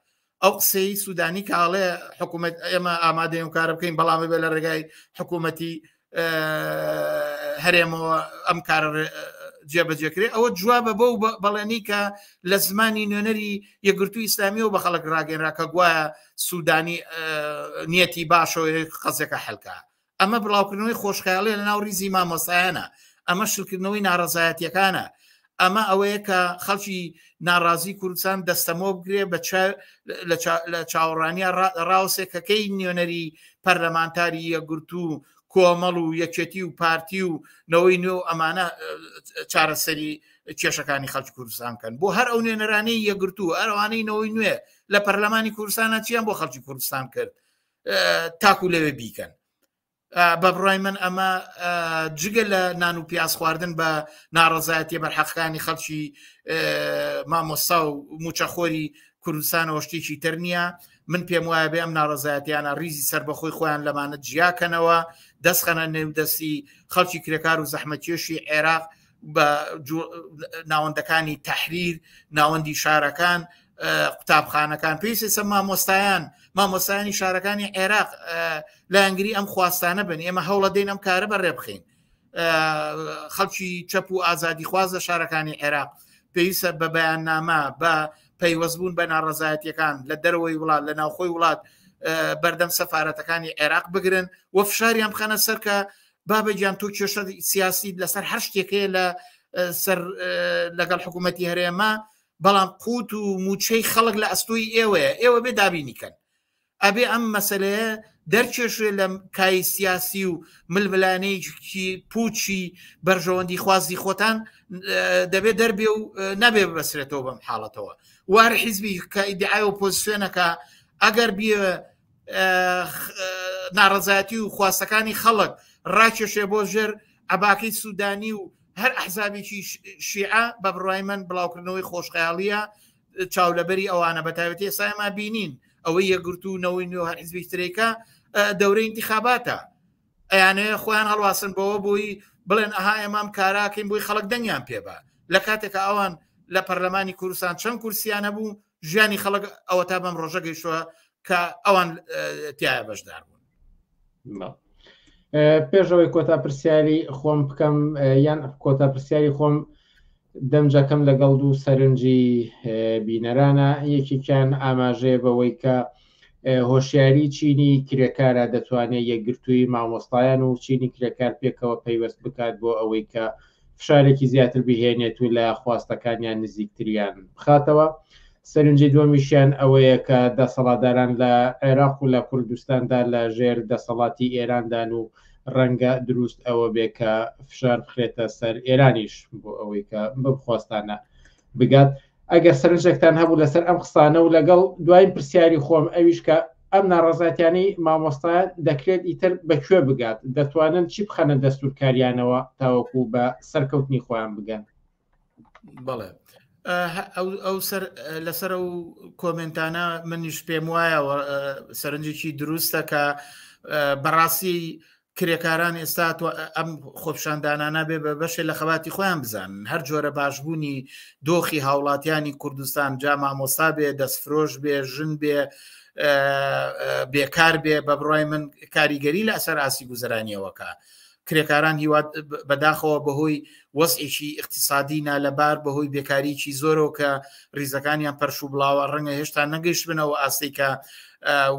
ئەو قسەی سوودانی کە ئاڵێ حکوومەت ئێمە ئامادەی و کارە بکەین بەڵام بێ لە ڕێگای حکوومەتی هەرێمەوە ئەم کار جێبەجێکرێ ئەوە جوابە بەو بەڵێنی کە لە زمانی نوێنەری یەگرتو ئیسلامیەوە بە خەڵک ڕاگەنرا کە گوایە سوودانی نیەتی باشەوەی قەزەکە حلکە ئەمە بڵاوکردنەوەی خۆشخیاڵی لە ناو ریزی مامۆسایانە ئەمە شلکردنەوەی ناڕزایەتیەکانە ئەمە ئەوەیە کە خەڵکی ناڕازی کوردستان دەستەمۆ بگرێ بە لە چاوەڕانیا ڕاوسێ کەکەی نوێنەری پەرلەمانتاری یەگررت و کۆمەڵ و یەکێتی و پارتی و نەوەی نوێ و ئەمانە چارەسەری کێشەکانی خەڵکی کوردستان کەن بۆ هەر ئەو نوێنەرانی یەگررت و ئەروانەی نەوەی نوێ لە پەرلەمانی کوردستانە چیان بۆ خەڵکی کوردستان کرد تاکو لەوێ بیکەن بە بڕای من ئەمە جگە لە نان و پیاز خواردن بە ناڕزایەتی بەرحەقەکانی خەڵکی مامۆستا و موچەخۆری کوردستانەوە شتێکی تر نییە من پێم وایە بێ ئەم ناڕزایەتیانە ریزی سربەخۆی خۆیان لەمانە جیاکەنەوە دەستخەنە نێودەستی خەڵکی کرێکار و زەحمەتێشی عێراق بە ناوەندەکانی تحریر ناوەندی شارەکان قوتابخانەکان پێویستە سە مامۆستایان مامۆستایانی شارەکانی عێراق لایەنگری ئەم خواستانە بن ئێمە هەوڵە دەین ئەم کارە بە ڕێ بخین خەڵکی چەپ و ئازادی خواز لە شارەکانی عێراق پێویستە بە بەیاننامە بە پەیوەستبوون بە ناڕزایەتەکان لە دەرەوەی وڵات لە ناوخۆی وڵات بەردەم سەفاەتەکانی عێراق بگرن و فشاریان بخەنە سەرکە بابە گیان تۆ کێشە سیاسیت لەسەر هەر شتێکەیە لە سەر لەگەڵ حکوومەتتی هەرێمە بەڵام قوت و موچەی خەڵک لە ئەستۆی ئێوەیە ئێوە بێ دابینی کەن ئەبێ ئەم مەسلەیە دەرکێشێ لە کای سیاسی و ململانەیەکی پوچی بەرژەوەندی خوازی خۆتان دەبێت دەربێ و نەبێ بەسرێتەوە بەم حاڵەتەوە وار حیزبی کە ئیدعای و پۆزیسیۆنەکە ئەگەر بیە ناڕزایەتی و خواستەکانی خەڵک ڕاکێشێ بۆ ژێر عباکەی سوودانی و هەر ئەحزابێکی شیعە بە بڕای من بڵاوکردنەوەی خۆشخەیاڵیە چاولەبەری ئەوانە بە تاوێتی ئێسایما بینین ئەوەی یەگرتو و نەوەی نوێ هەر حزبی ترێکە دەورەی انتخاباتە ئەیانێ خۆیان هەڵواسن بەوە بووی بڵێن ئەها ئێمام کاراکەین بووی خەڵک دەنگیان پێبا لە کاتێکە ئەوان لە پەرلەمانی کوردستان چەند کورسیانە بوو ژیانی خەڵک ئەوە تا بەم ڕۆژە گەیشتوە کە ئەوان تایە بەشدار بوون پێشەوەی کۆتا پرسیاری خۆم بکەم یان کۆتا پرسیاری خۆم دەمجەکەم لەگەڵ دوو سەرنجی بینەرانە یەکێکیان ئاماژەیە بەوەی کە اه هۆشیاری چینی کرێکارە دەتوانێت یەکگرتووی مامۆستایان و چینی کرێکار پێکەوە پەیوەست بکات بۆ ئەوەی کە فشارێکی زیاتر بهێنێت و لە خواستەکانیان نزیکتریان بخاتەوە سەرنجی دووەمیشیان ئەوەیە کە دەسەڵاتداران لە عێراق و لە کوردستاندا لە ژێر دەسەڵاتی ئێراندان و ڕەنگە دروست ئەوە بێ کە فشار بخرێتە سەر ئێرانیش بۆ ئەوەی کە بخواستانە بگات ئەگەر سەرنجێکتان هەبوو لەسەر ئەم قسانە و لەگەڵ دوایین پرسیاری خۆم ئەویش کە ئەم ناڕەزاتیانی مامۆستا دەکرێت ئیتر بەکوێ بگات دەتوانن چی بخەنە دەستورکاریانەوە تاوەکو بە سەرکەوتنی خۆیان بگەن بەڵێ ئەو لەسەر و کۆمنتانە منیش پێم وایە سەرنجێکی دروستەکە بەڕاستی کرێکاران ئێستا ئەم خۆپشاندانانە بێ بە بەشێ لە خەباتی خۆیان بزان هەر جۆرە باشبوونی دۆخی هاوڵاتیانی کوردستان جا مامۆستا بێ دەستفرۆش بێ ژن بێ بێکار بێ بە بڕای من کاریگەری لە ئەسەر ئاسی گوزرانیەوەکە کرێکاران هیوات بەداخەوە بەهۆی وەزئێکی اقتصادی نالەبار بەهۆی بێکاریی زۆرەوە کە ریزەکانیان پەرش و بڵاوە ڕەنگە هێشتا نەگەیشتبنەوە ئاستێکە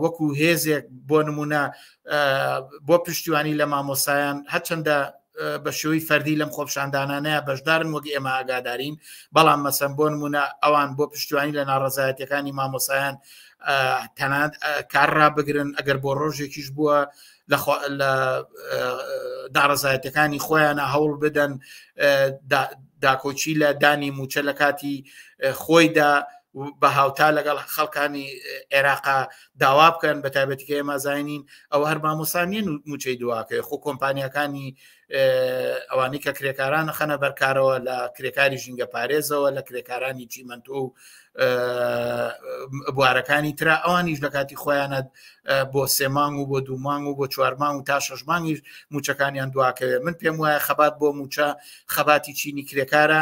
وەکو هێزێک بۆ نمونە بۆ پشتیوانی لە مامۆسایان هەچەندە بە شێوەی فەردی لەم خۆپشاندانانەیە بەشدارن وەک ئێمە ئاگادارین بەڵام مەسەن بۆ نمونە ئەوان بۆ پشتیوانی لە ناڕزایەتەکانی مامۆسایان تەنات کارڕا بگرن ئەگەر بۆ ڕۆژێکیش بووە لە داڕزایەتەکانی خۆیانە هەوڵ بدەن داکۆچی لە دانی موچە لە کاتی خۆیدا بە هاوتا لەگەڵ خەڵکانی عێراقا داوا بکەن بە تایبەتیکە ئێمە زانین ئەو هەر مامۆسانیان و موچەی دواکەی خۆ کۆمپانیەکانی ئەوانی کە کرێکاران خەنە بەرکارەوە لە کرێکاری ژینگە پارێزەوە لە کرێکارانی چیمەندۆ و بوارەکانی تررا ئەوانیش لە کاتی خۆیانە بۆ سێمانگ و بۆ دوومانگ و بۆ چوارمان و تا شەشمانگیش موچەکانیان دواکەوێت من پێم وایە خەبات بۆ موچە خەباتی چینی کرێکارە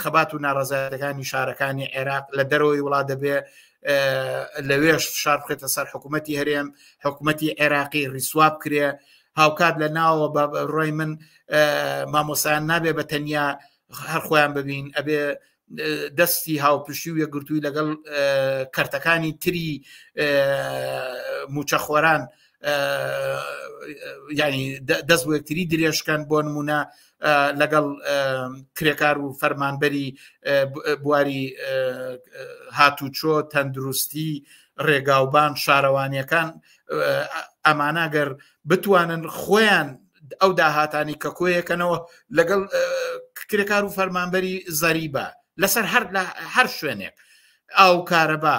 خەبات و ناڕزایەتەکانی شارەکانی عێراق لە دەرەوەی وڵات دەبێ لەوێش شار بخێتە سەر حکوومەتتی هەرێم حکوومەتتی عێراقی ریسواب کرێ هاوکات لە ناوە بە ڕۆی من مامۆسایان نابێ بە تەنیا هەر خۆیان ببین ئەبێ دەستی هاوپشتی و یەکگرتووی لەگەڵ کەرتەکانی تری موچەخۆران ینی دەست وەکتری درێژکەن بۆ نمونە لەگەڵ کرێکار و فەرمانبەری بواری هاتوچۆ تەندروستی ڕێگاوبان شارەوانیەکان ئەمانەگەر بتوانن خۆیان ئەو داهاتانی کە کۆیەکەنەوە لەگەڵ کرێکار و فەرمانبەری زەریبە لەسەر هەر لە هەر شوێنێک ئاو کارەبا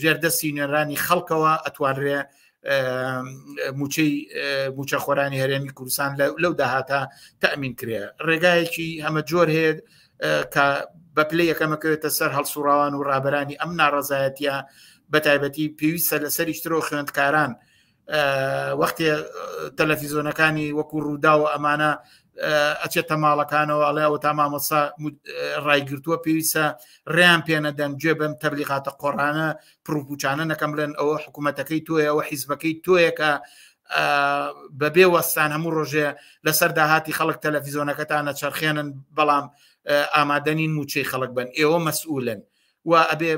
ژێردەستی نوێنرانی خەڵکەوە ئەتوانرێ موچەی موچە خۆرانی هەرێمی کوردستان لەو داهاتە تەمین کرێ ڕێگایەکی ئەمە جۆر هەیە کە بە پلی یەکەمەکەوێتە سەر هەڵسوڕاوان و ڕابرانی ئەم ناڕزایەتە بە تایبەتی پێویستە لەسەریشترۆ خوێندکاران وەختێ تەلەفیزۆنەکانی وەکو ڕووداوە ئەمانە ئەچێتە ماڵەکانەوە ئەڵێ ئەو تا مامۆسا ڕایگرتووە پێویستە ڕێیان پێنەدەن گوێ بەم تەبلیغاتە قۆڕانە پرروپوچانە نەکەم بڵێن ئەوە حکوومەتەکەی تۆیە ئەوە حیزبەکەی تۆیەکە بەبێ وەستان هەموو ڕۆژێ لەسەر داهاتی خەڵک تەلەفیزۆنەکەتانە چرخێنن بەڵام ئامادەنین موچەی خەڵک بن ئێوە مەسئولن و ئەبێ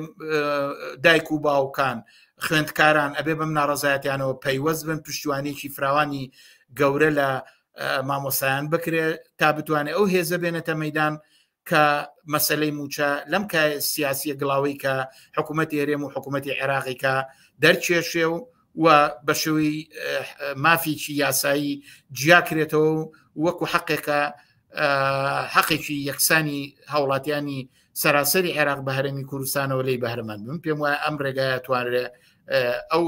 دایک و باوکان خوێندکاران ئەبێ بەم ناڕزایەتیانەوە پەیوەست بن پشتیوانێکی فراوانی گەورە لە مامۆسایان بکرێت تا بتوانێت ئەو هێزە بێنێتە مەدان کە مەسلەی موچە لەم کە سیاسیە گڵاوی کە حکوومەتی هەرێم و حکوومەتی عێراقیکە دەرچێشێ و و بە شوی مافیکی یاسایی جیاکرێتەوە و وەکو حقێکە حەقێکی یەکسانی هاوڵاتیانی سەراسەری عێراق بە هەرمی کوردستانەوە لی بەهرەمەند بم پێم وایە ئەم ڕێگایە توانرێ ئەو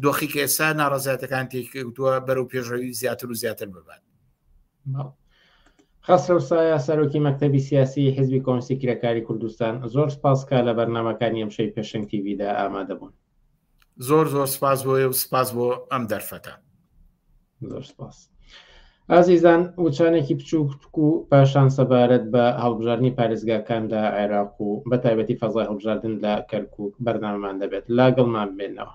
دۆخی کە ئێستا ناڕزاتەکان تێکوتووە بەرەو پێشەوی زیاتر و زیاتر ببات خەسرەو سایە سەرۆکی مەکتتەبی سیاسی حزبی کۆنسی کرێکاری کوردستان زۆر سپاسکە لە بەرنمەکانی ئەمشەی پێشنگ تیویدا ئامادەبوون زۆر زۆر سپاس بۆیە و سپاس بۆ ئەم دەرفەتە زۆر سپاس ئازیزان وچانێکی بچووک و پاشان سەبارەت بە هەڵبژاردننی پارێزگاکان لە عێراق و بە تایبەتی فەزای هەڵبژاردن لە کەرکک بەرنامەمان دەبێت لاگەڵمان بێنەوە.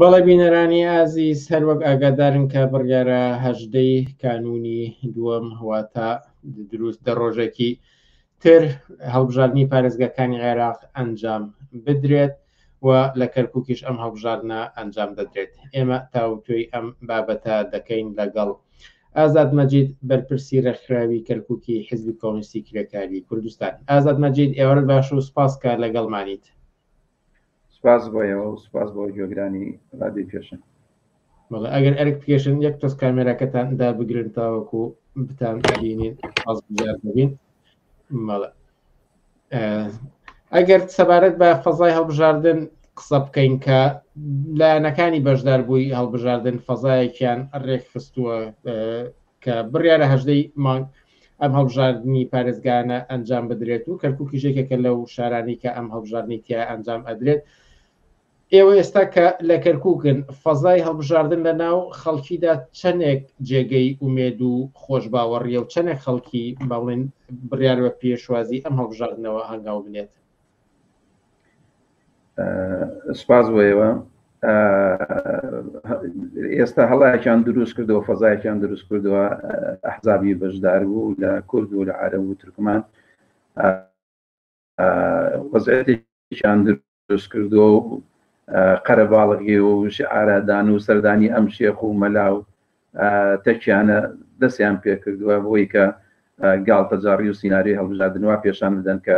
بەڵێ بینەرانی ئازیز هەروەک ئاگادارن کە بڕیارە هەژدەی کانونی دووەم هەواتە دروست دە ڕۆژێکی تر هەڵبژاردنی پارێزگاکانی عێراق ئەنجام بدرێت و لە کەرکووکیش ئەم هەڵبژاردنە ئەنجام دەدرێت ئێمە تاوتۆی ئەم بابەتە دەکەین لەگەڵ ئازاد مەجید بەرپرسی رێکخراوی کەرکووکی حزبی کۆمستی کرێکاری کوردستان ئازاد مەجید ئێوەر باش و سپاسکە لەگەڵمانیت سپاس بۆ ئێوە و سپاس بۆ گوێگرانی رادیۆی پێشن بەڵێ ئەگەر ئەرک پێشن یەک تۆز کامێراکەتان دا بگرن تاوەکو بتان بینین ئاز بزار ببین مەڵە ئەگەر سەبارەت بە فەزای هەڵبژاردن قسە بکەین کە لایەنەکانی بەشدار بووی هەڵبژاردن فەزایەکیان ڕێکخستووە کە بڕیارە هەژدەی مانگ ئەم هەڵبژاردنی پارێزگانە ئەنجام بدرێت و کەرککی ژێکێکە لەو شارانی کە ئەم هەڵبژاردنی تیا ئەنجام ئەدرێت ئێوە ئێستا کە لە کەرککن فەزای هەڵبژاردن لە ناو خەڵکیدا چەندێک جێگەی ئومێد و خۆش باوەڕیە و چەندێک خەڵکی باڵێن بڕیارەوە پێشوازی ئەم هەڵبژاردنەوە هەنگاو بنێت سپاس بۆ ئێوە ئێستا هەڵایەکیان دروست کردەوە فەزایەکیان دروست کردووە ئەحزابی بەشدار بوو لە کورد و لە عرە و ترکمان وەزیان دروست کردووە و قەرەباڵغی و شعارادان و سەردانی ئەم شێخ و مەلا و تەکیانە دەستیان پێکردووە بۆی کە گاڵتەجاڕی و سینناریۆی هەڵبژاردنوا پێشان بدەن کە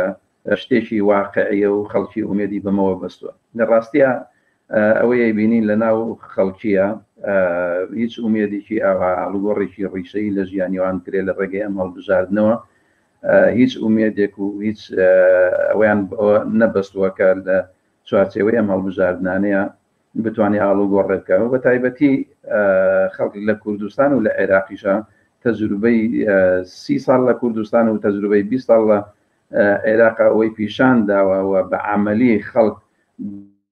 شتێکی واقعیە و خەڵکی ئومێدی بەمەوە بەستووە لە ڕاستە ئەوەی بینین لە ناو خەڵکیە هیچ ئومێدێکی ئاوا هەڵگۆڕێکی ڕیشەی لە ژیانیوان کرێ لە ڕێگەی ئەم هەڵبژاردنەوە هیچ ئومێدێک و هیچ ئەویان نەبەستووە کە لە چوارچەوەی ئەم هەڵبژاردنانەیە بتوانێ ئاڵوگۆڕێ بکا و بەتایبەتی خەڵک لە کوردستان و لە عێراقیشە تەجروبەی سی ساڵ لە کوردستان و تەجروبەی بی ساڵ لە عێراق ئەوەی پیشان داوە و بە عملی خەڵک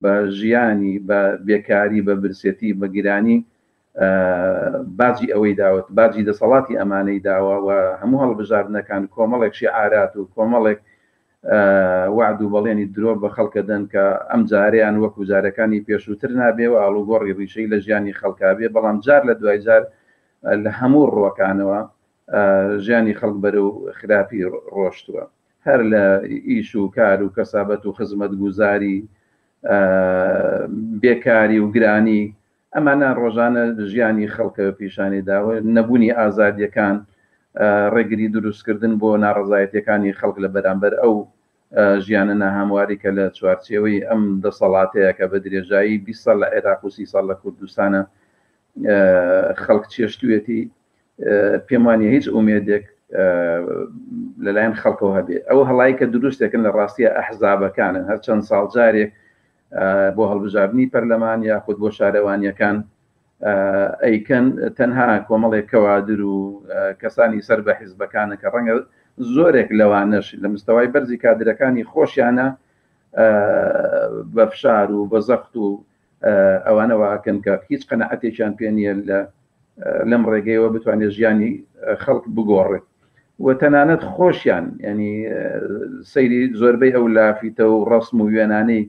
بە ژیانی بە بێکاری بە برسێتی بە گرانی باجی ئەوەی داوە، باجی دەسەڵاتی ئەمانەی داوە و هەموو هەڵبژاردنەکان کۆمەڵێک شیعارات و کۆمەڵێک وەعد و بەڵێنی درۆ بە خەڵک ئەدەن کە ئەم جارەیان وەکو جارەکانی پێشووتر نابێ و ئاڵوگۆڕی ڕیشەیی لە ژیانی خەڵکا بێ بەڵام جار لە دوای جار لە هەموو ڕووەکانەوە ژیانی خەڵک بەرەو خراپی ڕۆشتووە هەر لە ئیش و کار و کەسابەت و خزمەتگوزاری بێکاری و گرانی ئەمانە ڕۆژانە ژیانی خەڵکە پیشانی داوە، نەبوونی ئازادییەکان ڕێگری دروستکردن بۆ ناڕەزایەتییەکانی خەڵک لە بەرامبەر ئەو ژیانە ناهەمواری کە لە چوارچێوەی ئەم دەسەڵاتەیە کە بە درێژایی بیست ساڵ لە عێراق و سی ساڵ لە کوردستانە خەڵک چێشتوێتی پێم وانە هیچ ئومێدێک لەلایەن خەڵکەوە هەبێت ئەو هەڵایی کە دروستێکن لە ڕاستیە ئەحزابەکانن هەر چەند ساڵ جارێک بۆ هەڵبژاردنی پەرلەمان یاخود بۆ شارەوانیەکان ئەیکەن تەنها کۆمەڵێک کەوادر و کەسانی سەر بە حیزبەکانە کە ڕەنگە زۆرێک لەوانەش لە مستەوای بەرزی کادرەکانی خۆشیانە بە فشار و بە زەخت و ئەوانەوەکەن کە هیچ قەنەعەتێکیان پێ نیە لە لەم ڕێگەیەوە بتوانێت ژیانی خەڵک بگۆڕێت و تەنانەت خۆشیان ینی سەیری زۆربەی ئەو لافیتە و ڕسم و وێنانەی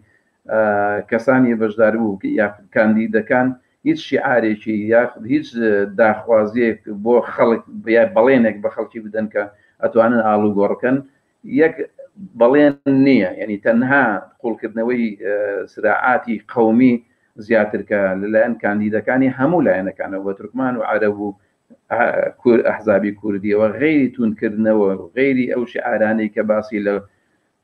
کەسانی بەشدار بوو یا کاندیدەکان هیچ شیعارێکی یاخود هیچ داخوازیەک بۆ خەڵک بڵێنێک بە خەڵکی بدەن کە ئەتوانن ئاڵوگۆڕکەن یەک بەڵێن نییە، یەنی تەنها قوڵکردنەوەی سراعاتی قەومی زیاتر کە لەلایەن کاندیدەکانی هەموو لایەنەکانەوە بە تورکمان و عەرەب و ئەحزابی کوردیەوە غەیری تووندکردنەوە و غەیری ئەو شعارانەی کە باسی لە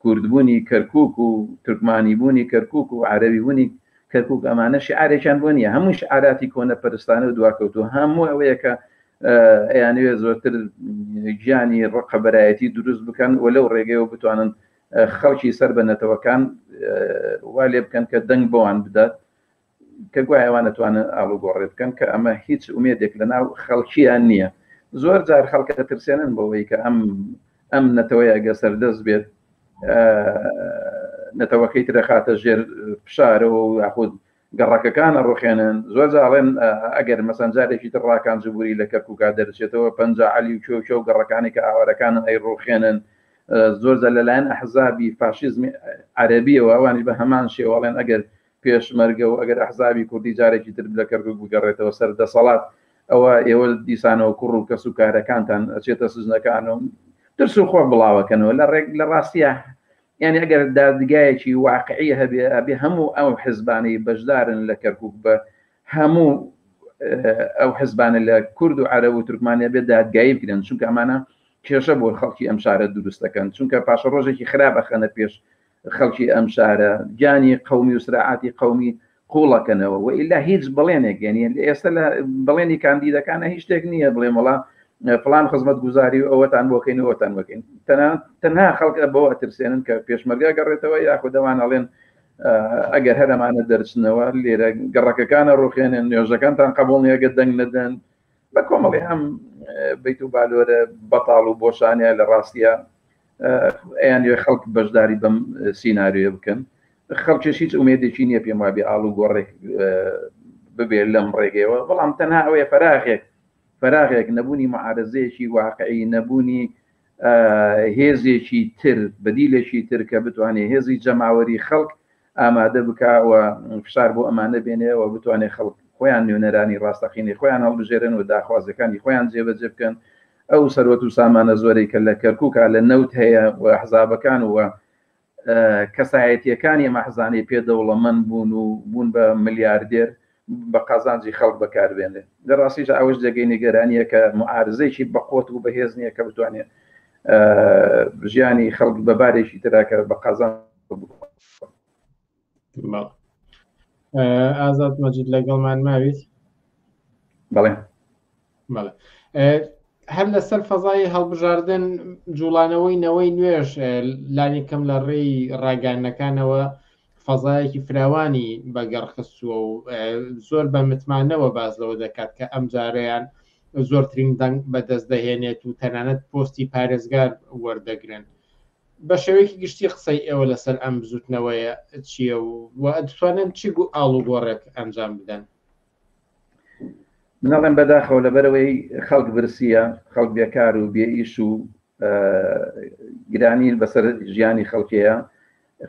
کوردبوونی کەرکوک و تورکمانی بوونی کەرکوک و عەرەبی بوونی کەرکوک ئەمانە شعارێکیان بۆ نییە هەموو شعاراتی کۆنە پەرستانە و دواکەوتوو هەموو ئەوەیە کە ئەیانوێ زۆرتر گیانی ڕقە بەرایەتی دروست بکەن و لەو ڕێگەیەوە بتوانن خەڵکی سەر بە نەتەوەکان وا لێ بکەن کە دەنگ بۆوان بدات کە گوایەوان نتوانن ئاڵوگۆڕێ بکەن کە ئەمە هیچ ئومێدێک لە ناو خەڵکییان نییە زۆر جار خەڵکە ترسێنن بەوەی کە ئەم ئەم نەتەوەیە گە سەردەست بێت نەتەوەکەی ترەخاتە ژێر فشارەوە یاخود گەڕەکەکان ئەڕوخێنن زۆرجار ئەڵێن ئەگەر مەسەن جارێکی تر ڕاکان جبوری لە کەرکوکا دەرچێتەوە پەنجا عەلی و کێو کێو گەڕەکانی کە ئاوارەکانن ئەی ڕوخێنن زۆرجار لەلایەن ئەحزابی فاشیزمی عەرەبیەوە ئەوانیش بە هەمان شێوە ئەڵێن ئەگەر پێشمەرگە و ئەگەر ئەحزابی کوردی جارێکی تر لە کەرکوک بگەڕێتەوە سەر دەسەڵات ئەوە ئێوە دیسانەوە کوڕ و کەس و کارەکانتان ئەچێتە سزنەکان و ترس و خۆ بڵاوەکەنەوە لە ڕێک لە ڕاستیە یانی ئەگەر دادگایەکی واقعی هەبێ ئەبێ هەموو ئەو حزبانەی بەشدارن لە کەرکوک بە هەموو ئەو حزبانە لە کورد و عەرە و تورکمانیا بێ دادگایی بکرێن چونکە ئەمانە کێشە بۆ خەڵکی ئەم شارە دروستەکەن چونکە پاشە ڕۆژێکی خراپ ئەخەنە پێش خەڵکی ئەم شارە گیانی قومی و سراعاتی قومی قوڵەکەنەوە وە ئیلا هیچ بەڵێنێک یعنی ئێستا لە بەڵێنی کاندیدەکانە هیچ شتێک نییە بڵێ وڵا پلان خزمەت گوزاری و ئەوەتان بۆکەین ئەوتان بکەین تەنها خەڵکە بۆ ئەترسێنن کە پێشمەرگا گەڕێتەوە یاخۆ دەوان ئەڵێن ئەگەر هەرمانە دەرچنەوە لێرە گەڕەکەکانە ڕوخێنن نوێژەکانتان قبول نیەگە دەنگ نەدەن بە کۆمەڵی ئەم بیت و بالۆرە بەتاڵ و بۆشانە لە ڕاستە ئەیان لێ خەڵک بەشداری بەم سینناریۆ بکەن خەڵکیش هیچ ئومێدێکی نییە پێم وابێ ئاڵ و گۆڕێک ببێت لەم ڕێگەیەوە بەڵام تەنها ئەوەیە فەراغێک فەراغێک نەبوونی معارزەیەکی واقعی نەبوونی هێزێکی تر بەدیلێکی تر کە بتوانێت هێزی جەماوەری خەڵک ئامادە بکا و فشار بۆ ئەمانە بێنێ و بتوانێت خەڵک خۆیان نوێنەرانی ڕاستەقینەی خۆیان هەڵبژێرن و داخوازەکانی خۆیان جێبەجێ بکەن ئەو سەروەت و سامانە زۆرەی کە لە کەرکووکە لە نەوت هەیە و حزابەکان و کەسایەتیەکانی ئەمە حزانەی پێ دەوڵەمەند بوون و بوون بە ملیاردێر بە قازانجی خەڵک بەکار بێنرێت. لە ڕاستیشدا ئەوەش جێگەی نیگەرانییە کە موعارزەیەکی بەقوەت و بەهێز نییە کە بتوانێت ژیانی خەڵک بە بارێکی ترا کە بە قازان ئازاد مەجید لەگەڵمان ماویت بەڵێ هەر لەسەر فەزای هەڵبژاردن جوڵانەوەی نەوەی نوێش لانی کەم لە ڕێی ڕاگەانەکانەوە فەزایەکی فراوانی بەگەڕخستووە و زۆر بە متمانەوە باز لەوە دەکات کە ئەم جارەیان زۆرترین دەنگ بەدەست دەهێنێت و تەنانەت پۆستی پارێزگار وەردەگرن بە شێوەیەکی گشتی قسەی ئێوە لەسەر ئەم بزوتنەوەیە چییە و دەتوانن چی ئاڵوگۆڕێک ئەنجام بدەن منەڵێن بەداخەوە لەبەرەوەی خەڵک برسیە خەڵک بێکار و بێ ئیش و گرانی بەسەر ژیانی خەڵکەیە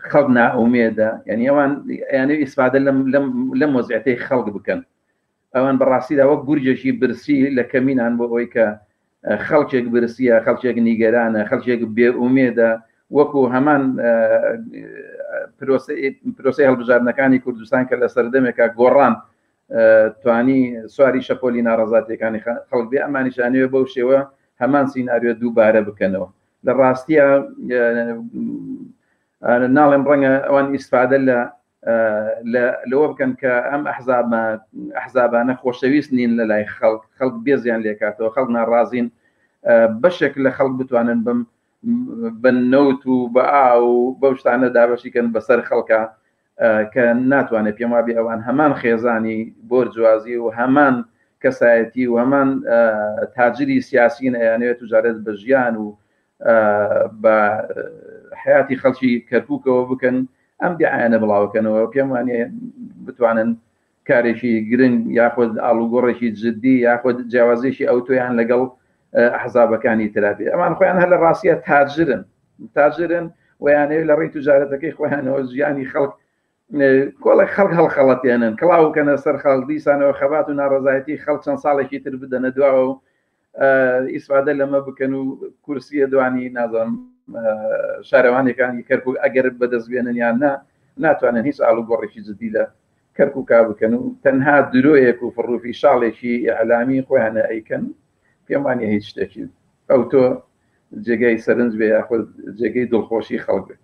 خەڵک ناومێدە یعنی ئەوان یانە ئیسفادە لەم مۆزیعەتی خەڵک بکەن ئەوان بەڕاستیدا وەک گورجێکی برسی لە کەمینان بۆ ئەوەی کە خەڵکێک برسیە خەڵکێک نیگەرانە خەڵکێک بێ ئومێدە وەکو هەمان پرۆسی هەڵبژاردنەکانی کوردستان کە لە سەردەمێکا گۆڕان توانی سواری شەپۆلی ناڕزاتەکانی خەڵک بێ ئەمانیشانەوە بەو شێوە هەمان سینناریۆ دووبارە بکەنەوە لە ڕاستیە ناڵێم ڕەنگە ئەوان ئیسفادە لە لەوە بکەن کە ئەم ئەحزابە ئەحزابانە خۆشەویست نین لە لای خەڵک خەڵک بێزیان لێکاتەوە خەڵک ناڕازین بەشێک لە خەڵک بتوانن بم بە نەوت و بە ئا و بەو شتانە دابەشیکەن بەسەر خەڵکە کە ناتوانێت پێم وابێ ئەوان هەمان خێزانی بۆرجوازی و هەمان کەسایەتی و هەمان تاجری سیاسین ئەیانەوێت و جارێت بە ژیان و بە حیاتی خەڵکی کەرککەوە بکەن ئەم دیعاەنە بڵاوکەنەوە پێم وانە بتوانن کارێکی گرنگ یاخود ئاڵوگۆڕێکی جددی یاخود جیاوازێکی ئەو تۆیان لەگەڵ حەزابەکانی ترابێ ئەمان خۆیان هەر لە ڕاستە تاجرن تاجرن ویانەیە لە ڕێی توجارەتەکەی خۆیانەوە ژیانی خەڵک کۆڵێک خەڵک هەڵخەڵەتێنن کڵاوکەنە سەر خەڵدیسانەوە خەبات و ناڕزایەتی خەڵ چەند ساڵێکی تر بدەنە دواوە و ئیسفادە لەمە بکەن و کورسیە دوانی نازم شارەوانەکانی کەرک و ئەگەر بەدەستبێنن یان نا ناتوانن هیچ ئاڵو گۆڕێکی جددی لە کەرک و کا بکەن و تەنها درۆیەک و فڕوفی شاڵێکی ئەعلامی خۆیانە ئەیکەن پێمانە هیچ شتێکی ئەو تۆ جێگای سەرنج بێ یاخود جێگەی دڵخۆشی خەڵک بێت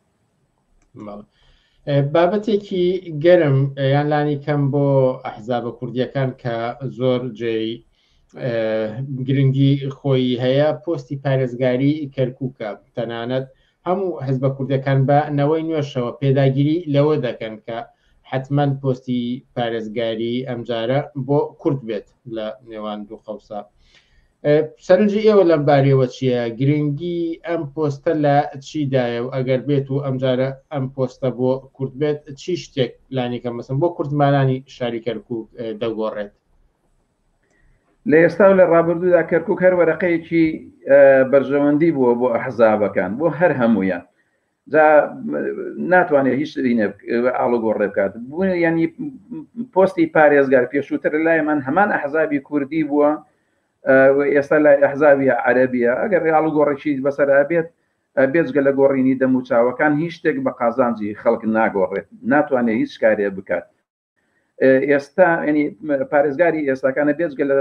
بابەتێکی گەرم یان لانی کەم بۆ ئەحزابە کوردیەکان کە زۆر جێی گرنگی خۆی هەیە پۆستی پارێزگاری کەرکووکە تەنانەت هەموو حزبە کوردەکان بە نەوەی نوێشەوە پێداگیری لەوە دەکەن کە حتمما پۆستی پارێزگاری ئەمجارە بۆ کورد بێت لە نێوان دوو قەوسە سەرنجی ئێوە لەم باریەوە چییە گرنگی ئەم پۆستە لە چیدایە و ئەگەر بێت و ئەمجارە ئەم پۆستە بۆ کورد بێت چی شتێک لانیکە مەسم بۆ کوردمانانی شاری کەرکک دەگۆڕێت لە ئێستا و لە ڕابردوودا کەرکک هەر وەرەقەیەکی بەرژەوەندی بووە بۆ ئەحزابەکان بۆ هەر هەمویان جا ناتوانێت هیچ شتینە ئاڵۆگۆڕێ بکات بوون ینی پۆستی پارێزگار پێشووتر لایمان هەمان ئەحزابی کوردی بووە ئێستا لای ئەحزابی عەربیە ئەگەر ئاڵوگۆڕێکی بەسەرا بێت بێجگە لە گۆڕینی دەموچاوەکان هیچ شتێک بە قازانجی خەڵک ناگۆڕێت ناتوانێت هیچ کارێ بکات ئێستا ینی پارێزگاری ئێستاکانە بێزگە لە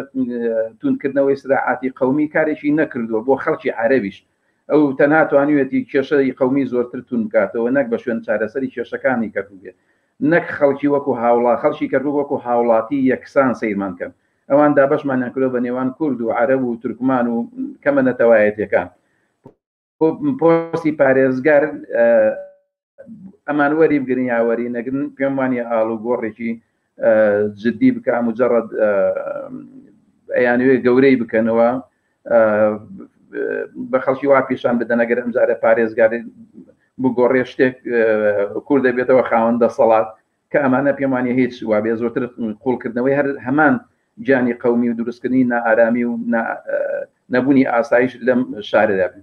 تونکردنەوەی سراعاتی قومی کارێکی نەکردووە بۆ خەڵکی عربیش ئەو تەنها توانیوێتی کێشەی قومی زۆرتر تون بکاتەوە نەک بە شوێن چارەسەری کێشەکانی کردوێت نەک خەڵکی وەکو هاوڵا خەڵکی کردو وەکو هاوڵاتی یەکسان سەیرمان کەن ئەوان دابشمانیان کردو بە نێوان کورد و عرب و تورکمان و کەمە نەتەوایەتەکان پۆسی پارێزگار ئەمان وەری بگرن یاوەری نەگرن پێم وانە ئاڵ و گۆڕێکی جددی بکە مجرڕد ئەیانوێ گەورەی بکەنەوە بە خەڵکی وا پیشان بدەنەگەر ئەمجارە پارێزگاری بگۆڕێ شتێک کوور دەبێتەوە خاوەن دەسەڵات کە ئەمانە پێم وانیە هیچ وابێ زۆرتر قوڵکردنەوەی هەر هەمان گیانی قومی و دروستکردنی نائارامی و نەبوونی ئاسایش لەم شاردا بن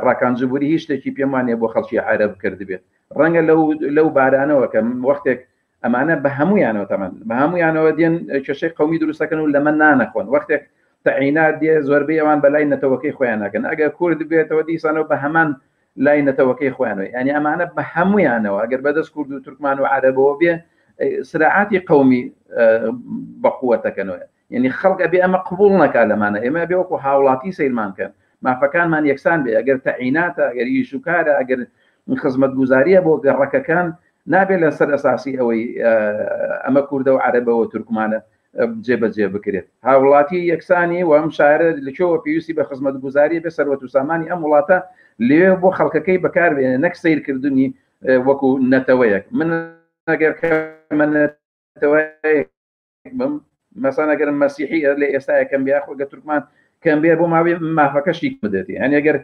ڕاکانجبووری هیچ شتێکی پێم وانە بۆ خەڵکی عرب کردبێت ڕەنگە لەو لەو بارانەوە کە وەختێک ئەمانە بە هەمویانەوە تەمەن بە هەمویانەوە دێن کێشەی قومی دروستەکەن و لەمە نانەخۆن وەختێک تەعینات دێ زۆربەی ئەوان بەلای نەتەوەکەی خۆیان ناکەن ئەگەر کورد بێتەوە دیسانەوە بە هەمان لای نەتەوەکەی خۆیانەوە یانی ئەمانە بە هەموویانەوە ئەگەر بەدەست کورد و تورکمان و عەرەبەوە بێ سراعاتی قومی بەقوەتەکەنەوە یعنی خەڵک ئەبێ ئەمە قبول نەکا لەمانە ئێمە بێ وەکو هاوڵاتی سەیرمان کەن مافەکانمان یەکسان بێ ئەگەر تەعیناتە ئەگەر ئیش و کارە ئەگەر خزمەت گوزاریە بۆ گەڕەکەکان نابێت لەسەر ئەساسی ئەوەی ئەمە کووردە و عەرەبەوە تورکمانە جێبەجێ بکرێت هاوڵاتی یەکسانی و ئەم شارە لەکەوە پێویستی بە خزمەت گوزاری بە سەروەت و سامانی ئەم وڵاتە لێ بۆ خەڵکەکەی بەکاربێنێ نەک سیرکردنی وەکو نەتەوەیەک من ئەگەر بم مەسانەگەر مەسیحی لە ئێستاە کەم بیا خۆگە تورکمان کەم بێ بۆ ماوەی مافەکەشی بدێتی هەنێگەر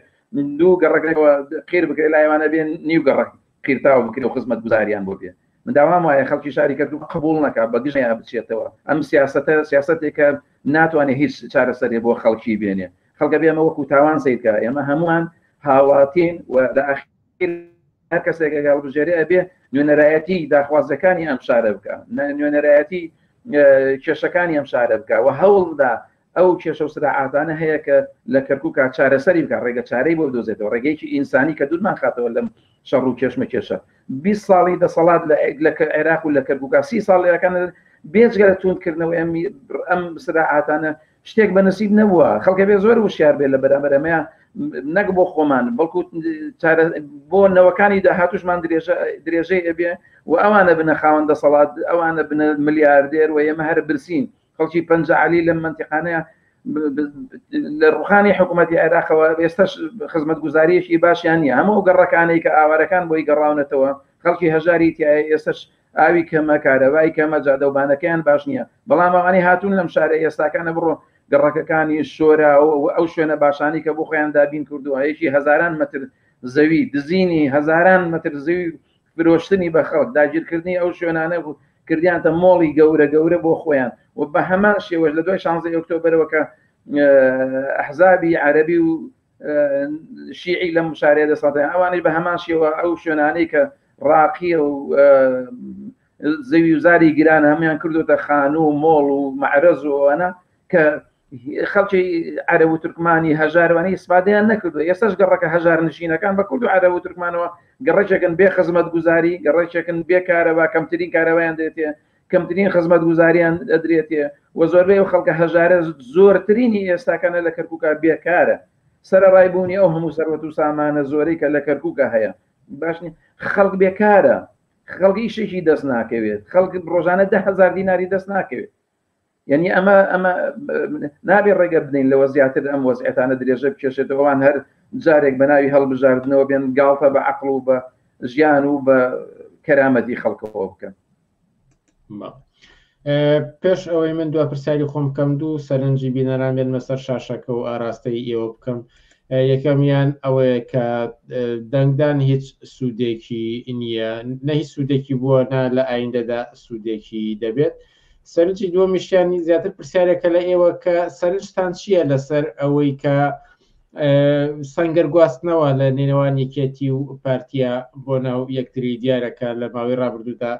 دوو گەڕەکەەوە قیر بکرێت لایوانە بێن نیو گەڕک قیرتاو بکرێ و خزمەتگوزاریان بۆ بێ من داوام وایە خەڵکی شاری کەرکوک قبول نەکا بە گژەیان بچێتەوە ئەم سیاستە سیاستێکە ناتوانێت هیچ چارەسەرێ بۆ خەڵکی بێنێ خەڵکە بێمە وەکو تاوان سیرکە ئێمە هەمووان هاوڵاتین و لە ئاخیر هەر کەسێکە گەڵبژێری ئەبێ نوێنەرایەتی داخوازەکانی ئەم شارە بکە نوێنەرایەتی کێشەکانی ئەم شارە بکە و هەوڵدا ئەو کێشە و سراعاتانە هەیە کە لە کەرکوکا چارەسەری بکە ڕێگە چارەی بۆ دۆزێتەوە ڕێگەیەکی ئینسانی کە دوورمان خاتەوە لەم شەڕ و کێشمە کێشە بی ساڵی دەسەڵات لە لە عێراق و لە کەرکوکا سی ساڵ لەکان بێجگە لە توندکردنەوە ئەم ئەم سراعاتانە شتێک بە نسیب نەبووە خەڵکە بێ زۆر وشار بێت لە بەرامەرەمەیە نەک بۆ خۆمان بەڵکو بۆ نەوەکانی داهاتوشمان درێژەی ئەبێ و ئەوانە بنە خاوەن دەسەڵات ئەوانە بنە ملیاردێر و ئێمە هەر برسین خەڵکی پەنجەعەلی لەم مەنتیقانەیە لە ڕوخانی حکوومەتی عێراقەوە ئێستاش خزمەتگوزاریەکی باشیان نیە هەموو گەڕەکانەی کە ئاوارەکان بۆی گەڕاونەتەوە خەڵکی هەژاری تایە ئێستش ئاوی کەمە کارەوای کەمە جادەوبانەکەیان باش نییە بەڵام ئەوانی هاتوون لەم شارە ئێستاکانە بڕۆ گەڕەکەکانی شۆرا ئەو شوێنە باشانی کە بۆ خۆیان دابین کردووە یەکی هزاران متر زەوی دزینی هزاران متر زەوی فرۆشتنی بە خەڵک، داگیرکردنی ئەو شوێنانە بوو، کردیانتە مۆڵی گەورە گەورە بۆ خۆیان و بە هەمان شێوەش لە دوای شانزەی ئۆکتۆبەرەوە کە ئەحزابی عەرەبی و شیعی لەم شارەیە دەسەڵاتیان ئەوانەی بە هەمان شێوە ئەو شوێنانەی کە ڕاقیە و زەوی وزاری گران هەمان کردوتە خانوو و مۆڵ و معرەز و ئەوانە کە خەڵکی عەرە و تورکمانی هەژاروانی ئیسپادیان نەکردو ئێسش گەڕەکە هەژار نشینەکان بە کورد و عەرە و تورکمانەوە گەڕێکێکن بێ خزمەت گوزاری گەڕێکێکن بێکارەوە کەمترین کارەوەیان دێتێ کەمترین خزمەت گوزاریان دەدرێتێ و زۆربەی و خەڵکە هەژارە زۆرترینی ئێستاکانە لە کەرکووکە بێکارە سەرڕای بوونی ئەو هەموو سەروەت و سامانە زۆری کە لە کەرکووکە هەیە باشنی خەڵک بێکارە خەڵکی شێکی دەست ناکەوێت خەڵک ڕۆژانە دههزار دیناری دەست ناکەوێت یعنی ئەمە ئەمە نابێ ڕێگە بدەین لەوە زیاتر ئەم وەزعێتانە درێژە بکێشێتەوەوان هەر جارێک بە ناوی هەڵبژاردنەوە بێن گاڵتە بە عقل و بە ژیان و بە کەرامەتی خەڵکەوە بکەن پێش ئەوەی من دو پرسیاری خۆم بکەم دوو سەرنجی بینەران بێن مەسەر شاشەکە و ئاراستەی ئێوە بکەم یەکەمیان ئەوەیە کە دەنگدان هیچ سوودێکی نییە نەهی سوودێکی بووە نا لە ئایندەدا سوودێکی دەبێت. سەرنجی دووەمیشیان زیاتر پرسیارێکە لە ئێوە کە سەرنجتان چییە لەسەر ئەوەی کە سەنگەر گواستنەوە لە نێوان یەکێتی و پارتیا بۆ ناو یەکتری دیارەکە لە ماوەی ڕابردوودا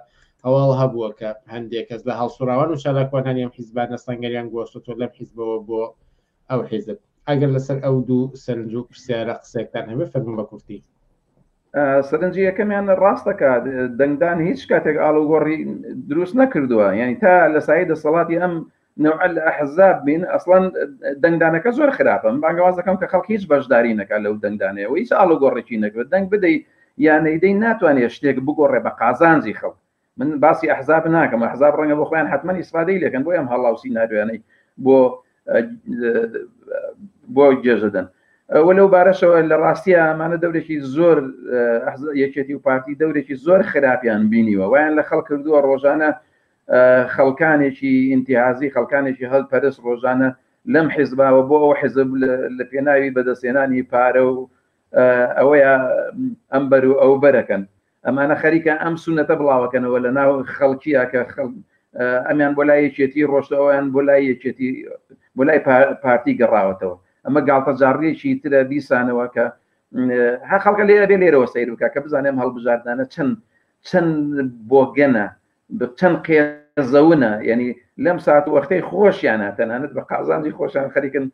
هەواڵ هەبووە کە هەندێک کەس لە هەڵسوراوان و چالاکوانانی ئەم حیزبانە سەنگەریان گۆستۆ لەم حیزبەوە بۆ ئەو حیزب ئەگەر لەسەر ئەو دوو سەرنج و پرسیارە قسەکتان هەبێ فەرمون بە کورتی سەرنجی یەکەمیان ڕاستەکە دەنگدان هیچ کاتێک ئاڵوگۆڕی دروست نەکردووە یعنی تا لە سای دەسەڵاتی ئەم نوع لە ئەحزاب بین ئەسڵان دەنگدانەکە زۆر خراپم بانگەوازەکەم کە خەڵک هیچ بەشداری نەکە لەو دەنگدانەوە هیچ ئاڵوگۆڕێکی نەکرێت دەنگ بدەیت یانەیدەی ناتوانێت شتێک بگۆڕێ بە قازانجی خەڵک من باسی ئەحزاب ناکەم ئەحزاب ڕەنگە بۆ خۆیان حتممە ئیسفادەی لەکەن بۆ ئەم هەڵاو سینناریویانەی بۆ بۆ گێژەدەن ئەوە لەو بارەشەوە لە ڕاستیە ئەمانە دەورێکی زۆر یەکێتی و پارتی دەورێکی زۆر خراپیان بینیوە وایان لە خەڵ کردووە ڕۆژانە خەڵکانێکی ئینتیازی خەڵکانێکی هەڵپەرست ڕۆژانە لەم حیزباوە بۆ ئەو حیزب لە پێناوی بەدەستێنانی پارە و ئەوەیە ئەم بەر و ئەو بەرەکەن ئەمانە خەریکە ئەم سونەتە بڵاوەکەنەوە لە ناو خەڵکیە کە خەڵک ئەمیان بۆ لای یەکێتی ڕۆشتەوەیان بۆ لای یەکێتی بۆ لای پارتی گەڕاوەتەوە ئەمە گاڵتە جاڕێکی ترە بیسانەوە کە هە خەڵکە لێ بێ لێرەوە سیر بکە کە بزانێم هەڵبژاردانە چەند چەند بۆگەنە چەند قێزەونە یعنی لەم سات و وەختەی خۆشیانە تەنانەت بە قازانجی خۆشان خەریکن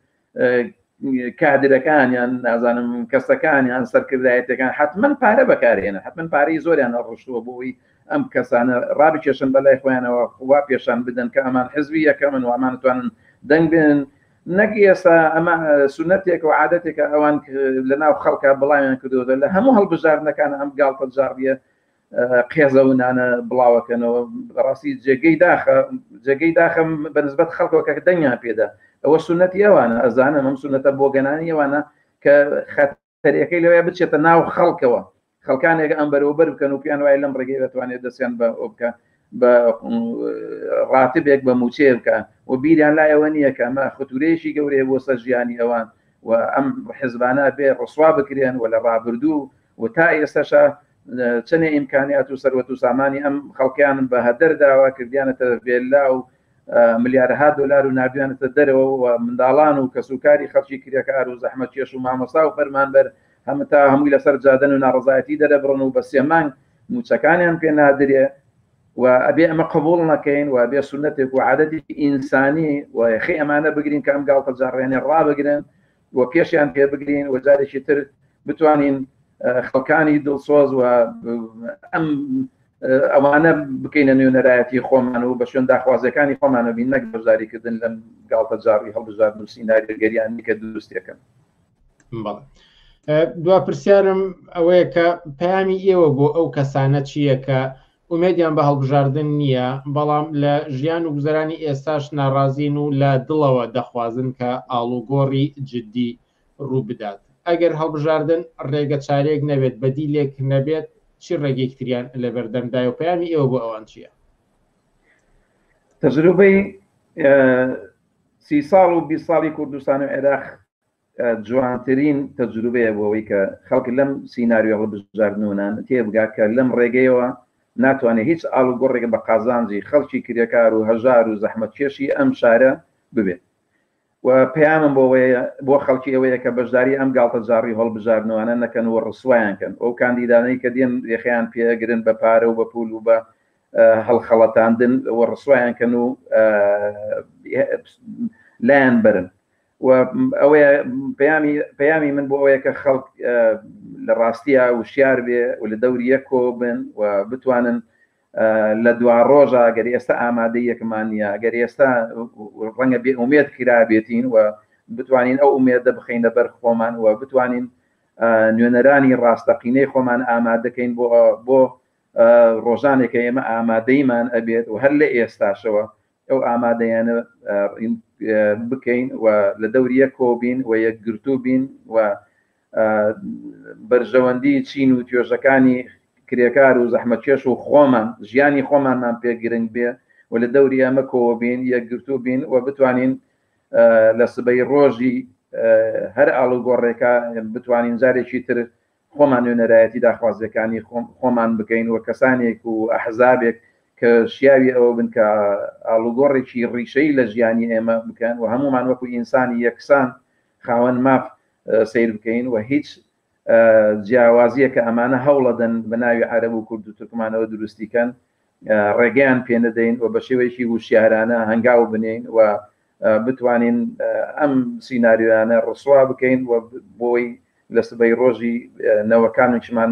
کادرەکانیان نازانم کەسەکانیان سەرکردایەتەکان حتمما پارە بەکارێنە حتمما پارەی زۆریان ڕشتووە بۆی ئەم کەسانە ڕابی کێشن بەلای خۆیانەوە وا پێشان بدەن کە ئەمان حزبی یەکەمن وامانتوانن دەنگ بێن نەک ئێستا ئەمە سونەتێک و عادەتێکە ئەوان لە ناو خەڵکە بڵاویان کردوەوە لە هەموو هەڵبژاردنەکان ئەم گاڵتە جاڕیە قێزەونانە بڵاوەکەنەوە بەڕاستی جێگەی داخە جێگەی داخە بەنسبەت خەڵکەکە دەنگیان پێدا ئەوە سنەتی ئەوانە ئەزانە مەم سنەتە بۆ گەنانی ئەوانە کە خەتەرەکەی لەوەیە بچێتە ناو خەڵکەوە خەڵکانێک ئەم بەرەوەبەر بکەن و پێیان وای لەم ڕێگەی دەتوانێت دەستیان بە ئەو بکە بە ڕاتبێک بە موچێ بکە و بیریان لایەوە نییە کە ئەمە خەتورەیەکی گەورەیە بۆ سەر ژیانی ئەوان و ئەم حزبانە بێ ڕسوا بکرێن و لە ڕابردوو و تا ئێستەشە چەنێ ئیمکانیات و سەروەت و سامانی ئەم خەڵکیانم بە هەدەر داوا کردیانەتە ڤێلا و ملیارها دلار و نردویانەتە دەرەوە و منداڵان و کەسوکاری خەڵکی کرێکار و زەحمە کێش و مامۆسا و فەرمانبەر هەمە تا هەمووی لەسەر جادن و ناڕزایەتی دەرەبڕن و بە سێمانگ موچەکانیان پێ نادرێ و ئەبێ ئەمە قبول نەکەین و بێ سنتێک و عادەتی ئینسانی و یخی ئەمانە بگرین کە ئەم گاڵتە جاڕێنێ ڕابگرن و پێشیان پێ بگرین و جارێکی تر بتوانین خەڵکانی دڵسۆز و ئەم ئەوانە بکەینە نوێنەرایەتی خۆمان و بە شوێن داخوازەکانی خۆمانە بین نەک بەشداریکردن لەم گاڵتە جاڕی هەڵبژار نووسی ناگەرگەریانی کە دروستێکن دوا پرسیارم ئەوەیە کە پامی ئێوە بۆ ئەو کەسانە چییە کە ئومێدیان بە هەڵبژاردن نییە، بەڵام لە ژیان و گوزەرانی ئێستاش ناڕازین و لە دڵەوە دەخوازن کە ئاڵوگۆڕی جددی ڕووبدات. ئەگەر هەڵبژاردن ڕێگە چارەیەک نەبێت، بەدیلێک نەبێت، چی ڕێگەیەکی تریان لەبەردەمدایە و پەیامی ئێوە بۆ ئەوان چییە؟ تەجروبەی سی ساڵ و بیست ساڵی کوردستان و عێراق جوانترین تەجروبەیە بۆ ئەوەی کە خەڵک لەم سیناریۆ هەڵبژاردنونان تێبگات کە لەم ڕێگەیەوە ناتوانێت هیچ ئاڵوگۆڕێک بە قازانجی خەڵکی کرێکار و هەژار و زەحمەتکێشی ئەم شارە ببێت و پەیامم بۆ ئەوەیە بۆ خەڵکی ئەوەیە کە بەشداری ئەم گاڵتەجاڕی هەڵبژاردنوانە نەکەن و ڕسوایان کەن ئەو کاندیدانەی کە دێن یەخەیان پێگرن بە پارە و بە پول و بە هەڵخەڵەتاندن و ڕسوایان کەن و لایان بەرن و ئەوەیە پەیامی پەیامی من بۆ ئەوەیە کە خەڵک لە ڕاستیە وشیار بێ و لە دەوریە کۆ بن و بتوانن لە دوا ڕۆژە گەر ئێستا ئامادەی یەکمان نیە گەر ئێستا ڕەنگە بێ ئومێت کرابێتین و بتوانین ئەو ئومێدە بخینە بەر خۆمان و بتوانین نوێنەرانی ڕاستەقینەی خۆمان ئامادەکەین بۆ بۆ ڕۆژانێکە ئێمە ئامادەیمان ئەبێت و هەر لە ئێستاشەوە ئەو ئامادەیانە بکەین و لە دەوریە کۆبین و یەکگرتوو بین و بەرژەوەندی چین و توێژەکانی کرێکار و زەحمەکێش و خۆمان ژیانی خۆمانمان پێ گرنگ بێ و لە دەوری ئەمە کۆبین یەکگرتوو بین و بتوانین لە سبەی ڕۆژی هەر ئاڵوگۆڕێکە بتوانین جارێکی تر خۆمان نوێنەرایەتی داخوازیەکانی خۆمان بکەین و کەسانێک و ئەحزابێک کە شیاوی ئەوە بن کە ئالوگۆڕێکی ڕیشەی لە ژیانی ئێمە بکەن و هەمومان وەکو ئینسانی یەکسان خاوەن ماف سیر بکەین و هیچ جیاوازیە کە ئەمانە هەوڵەدەن بە ناوی عەرب و کورد و تورکمانەوە دروستیکەن ڕێگەیان پێنەدەین و بە شێوەیەکی وشیارانە هەنگاو بنین و بتوانین ئەم سینناریۆیانە ڕسوا بکەین و بۆی لە سبەی ڕۆژی نەوەکانشمان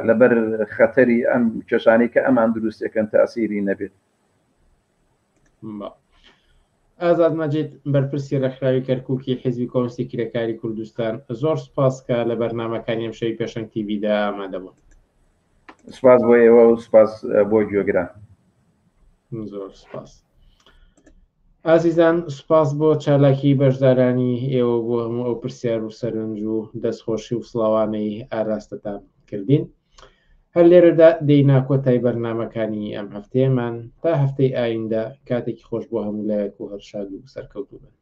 لەبەر خەتەری ئەم کێشانی کە ئەمان دروستەکەن تاسیری نەبێت ئازاد مەجید بەرپرسی ڕێکخراوی کەرککی حیزبی کۆنسی کرێکاری کوردستان زۆر سپاسکە لە بەرنمەکانی ئەم شەوی پێشنگ تیویدا ئامادەبوون سپاس بۆ ئێوە و سپاس بۆ گوێگران زۆر سپاس ئازیزان سپاس بۆ چالاکی بەشدارانی ئێوە بۆ هەموو ئەو پرسیار و سەرنج و دەستخۆشی و سڵاوانەی ئاراستتان کردین هەر لێرەدا دەینا کۆتای بەرنمەکانی ئەم هەفتەیەمان تا هەفتەی ئایندە کاتێکی خۆش بۆ هەموو لایەک و هەرشاد و سەرکەوتوبن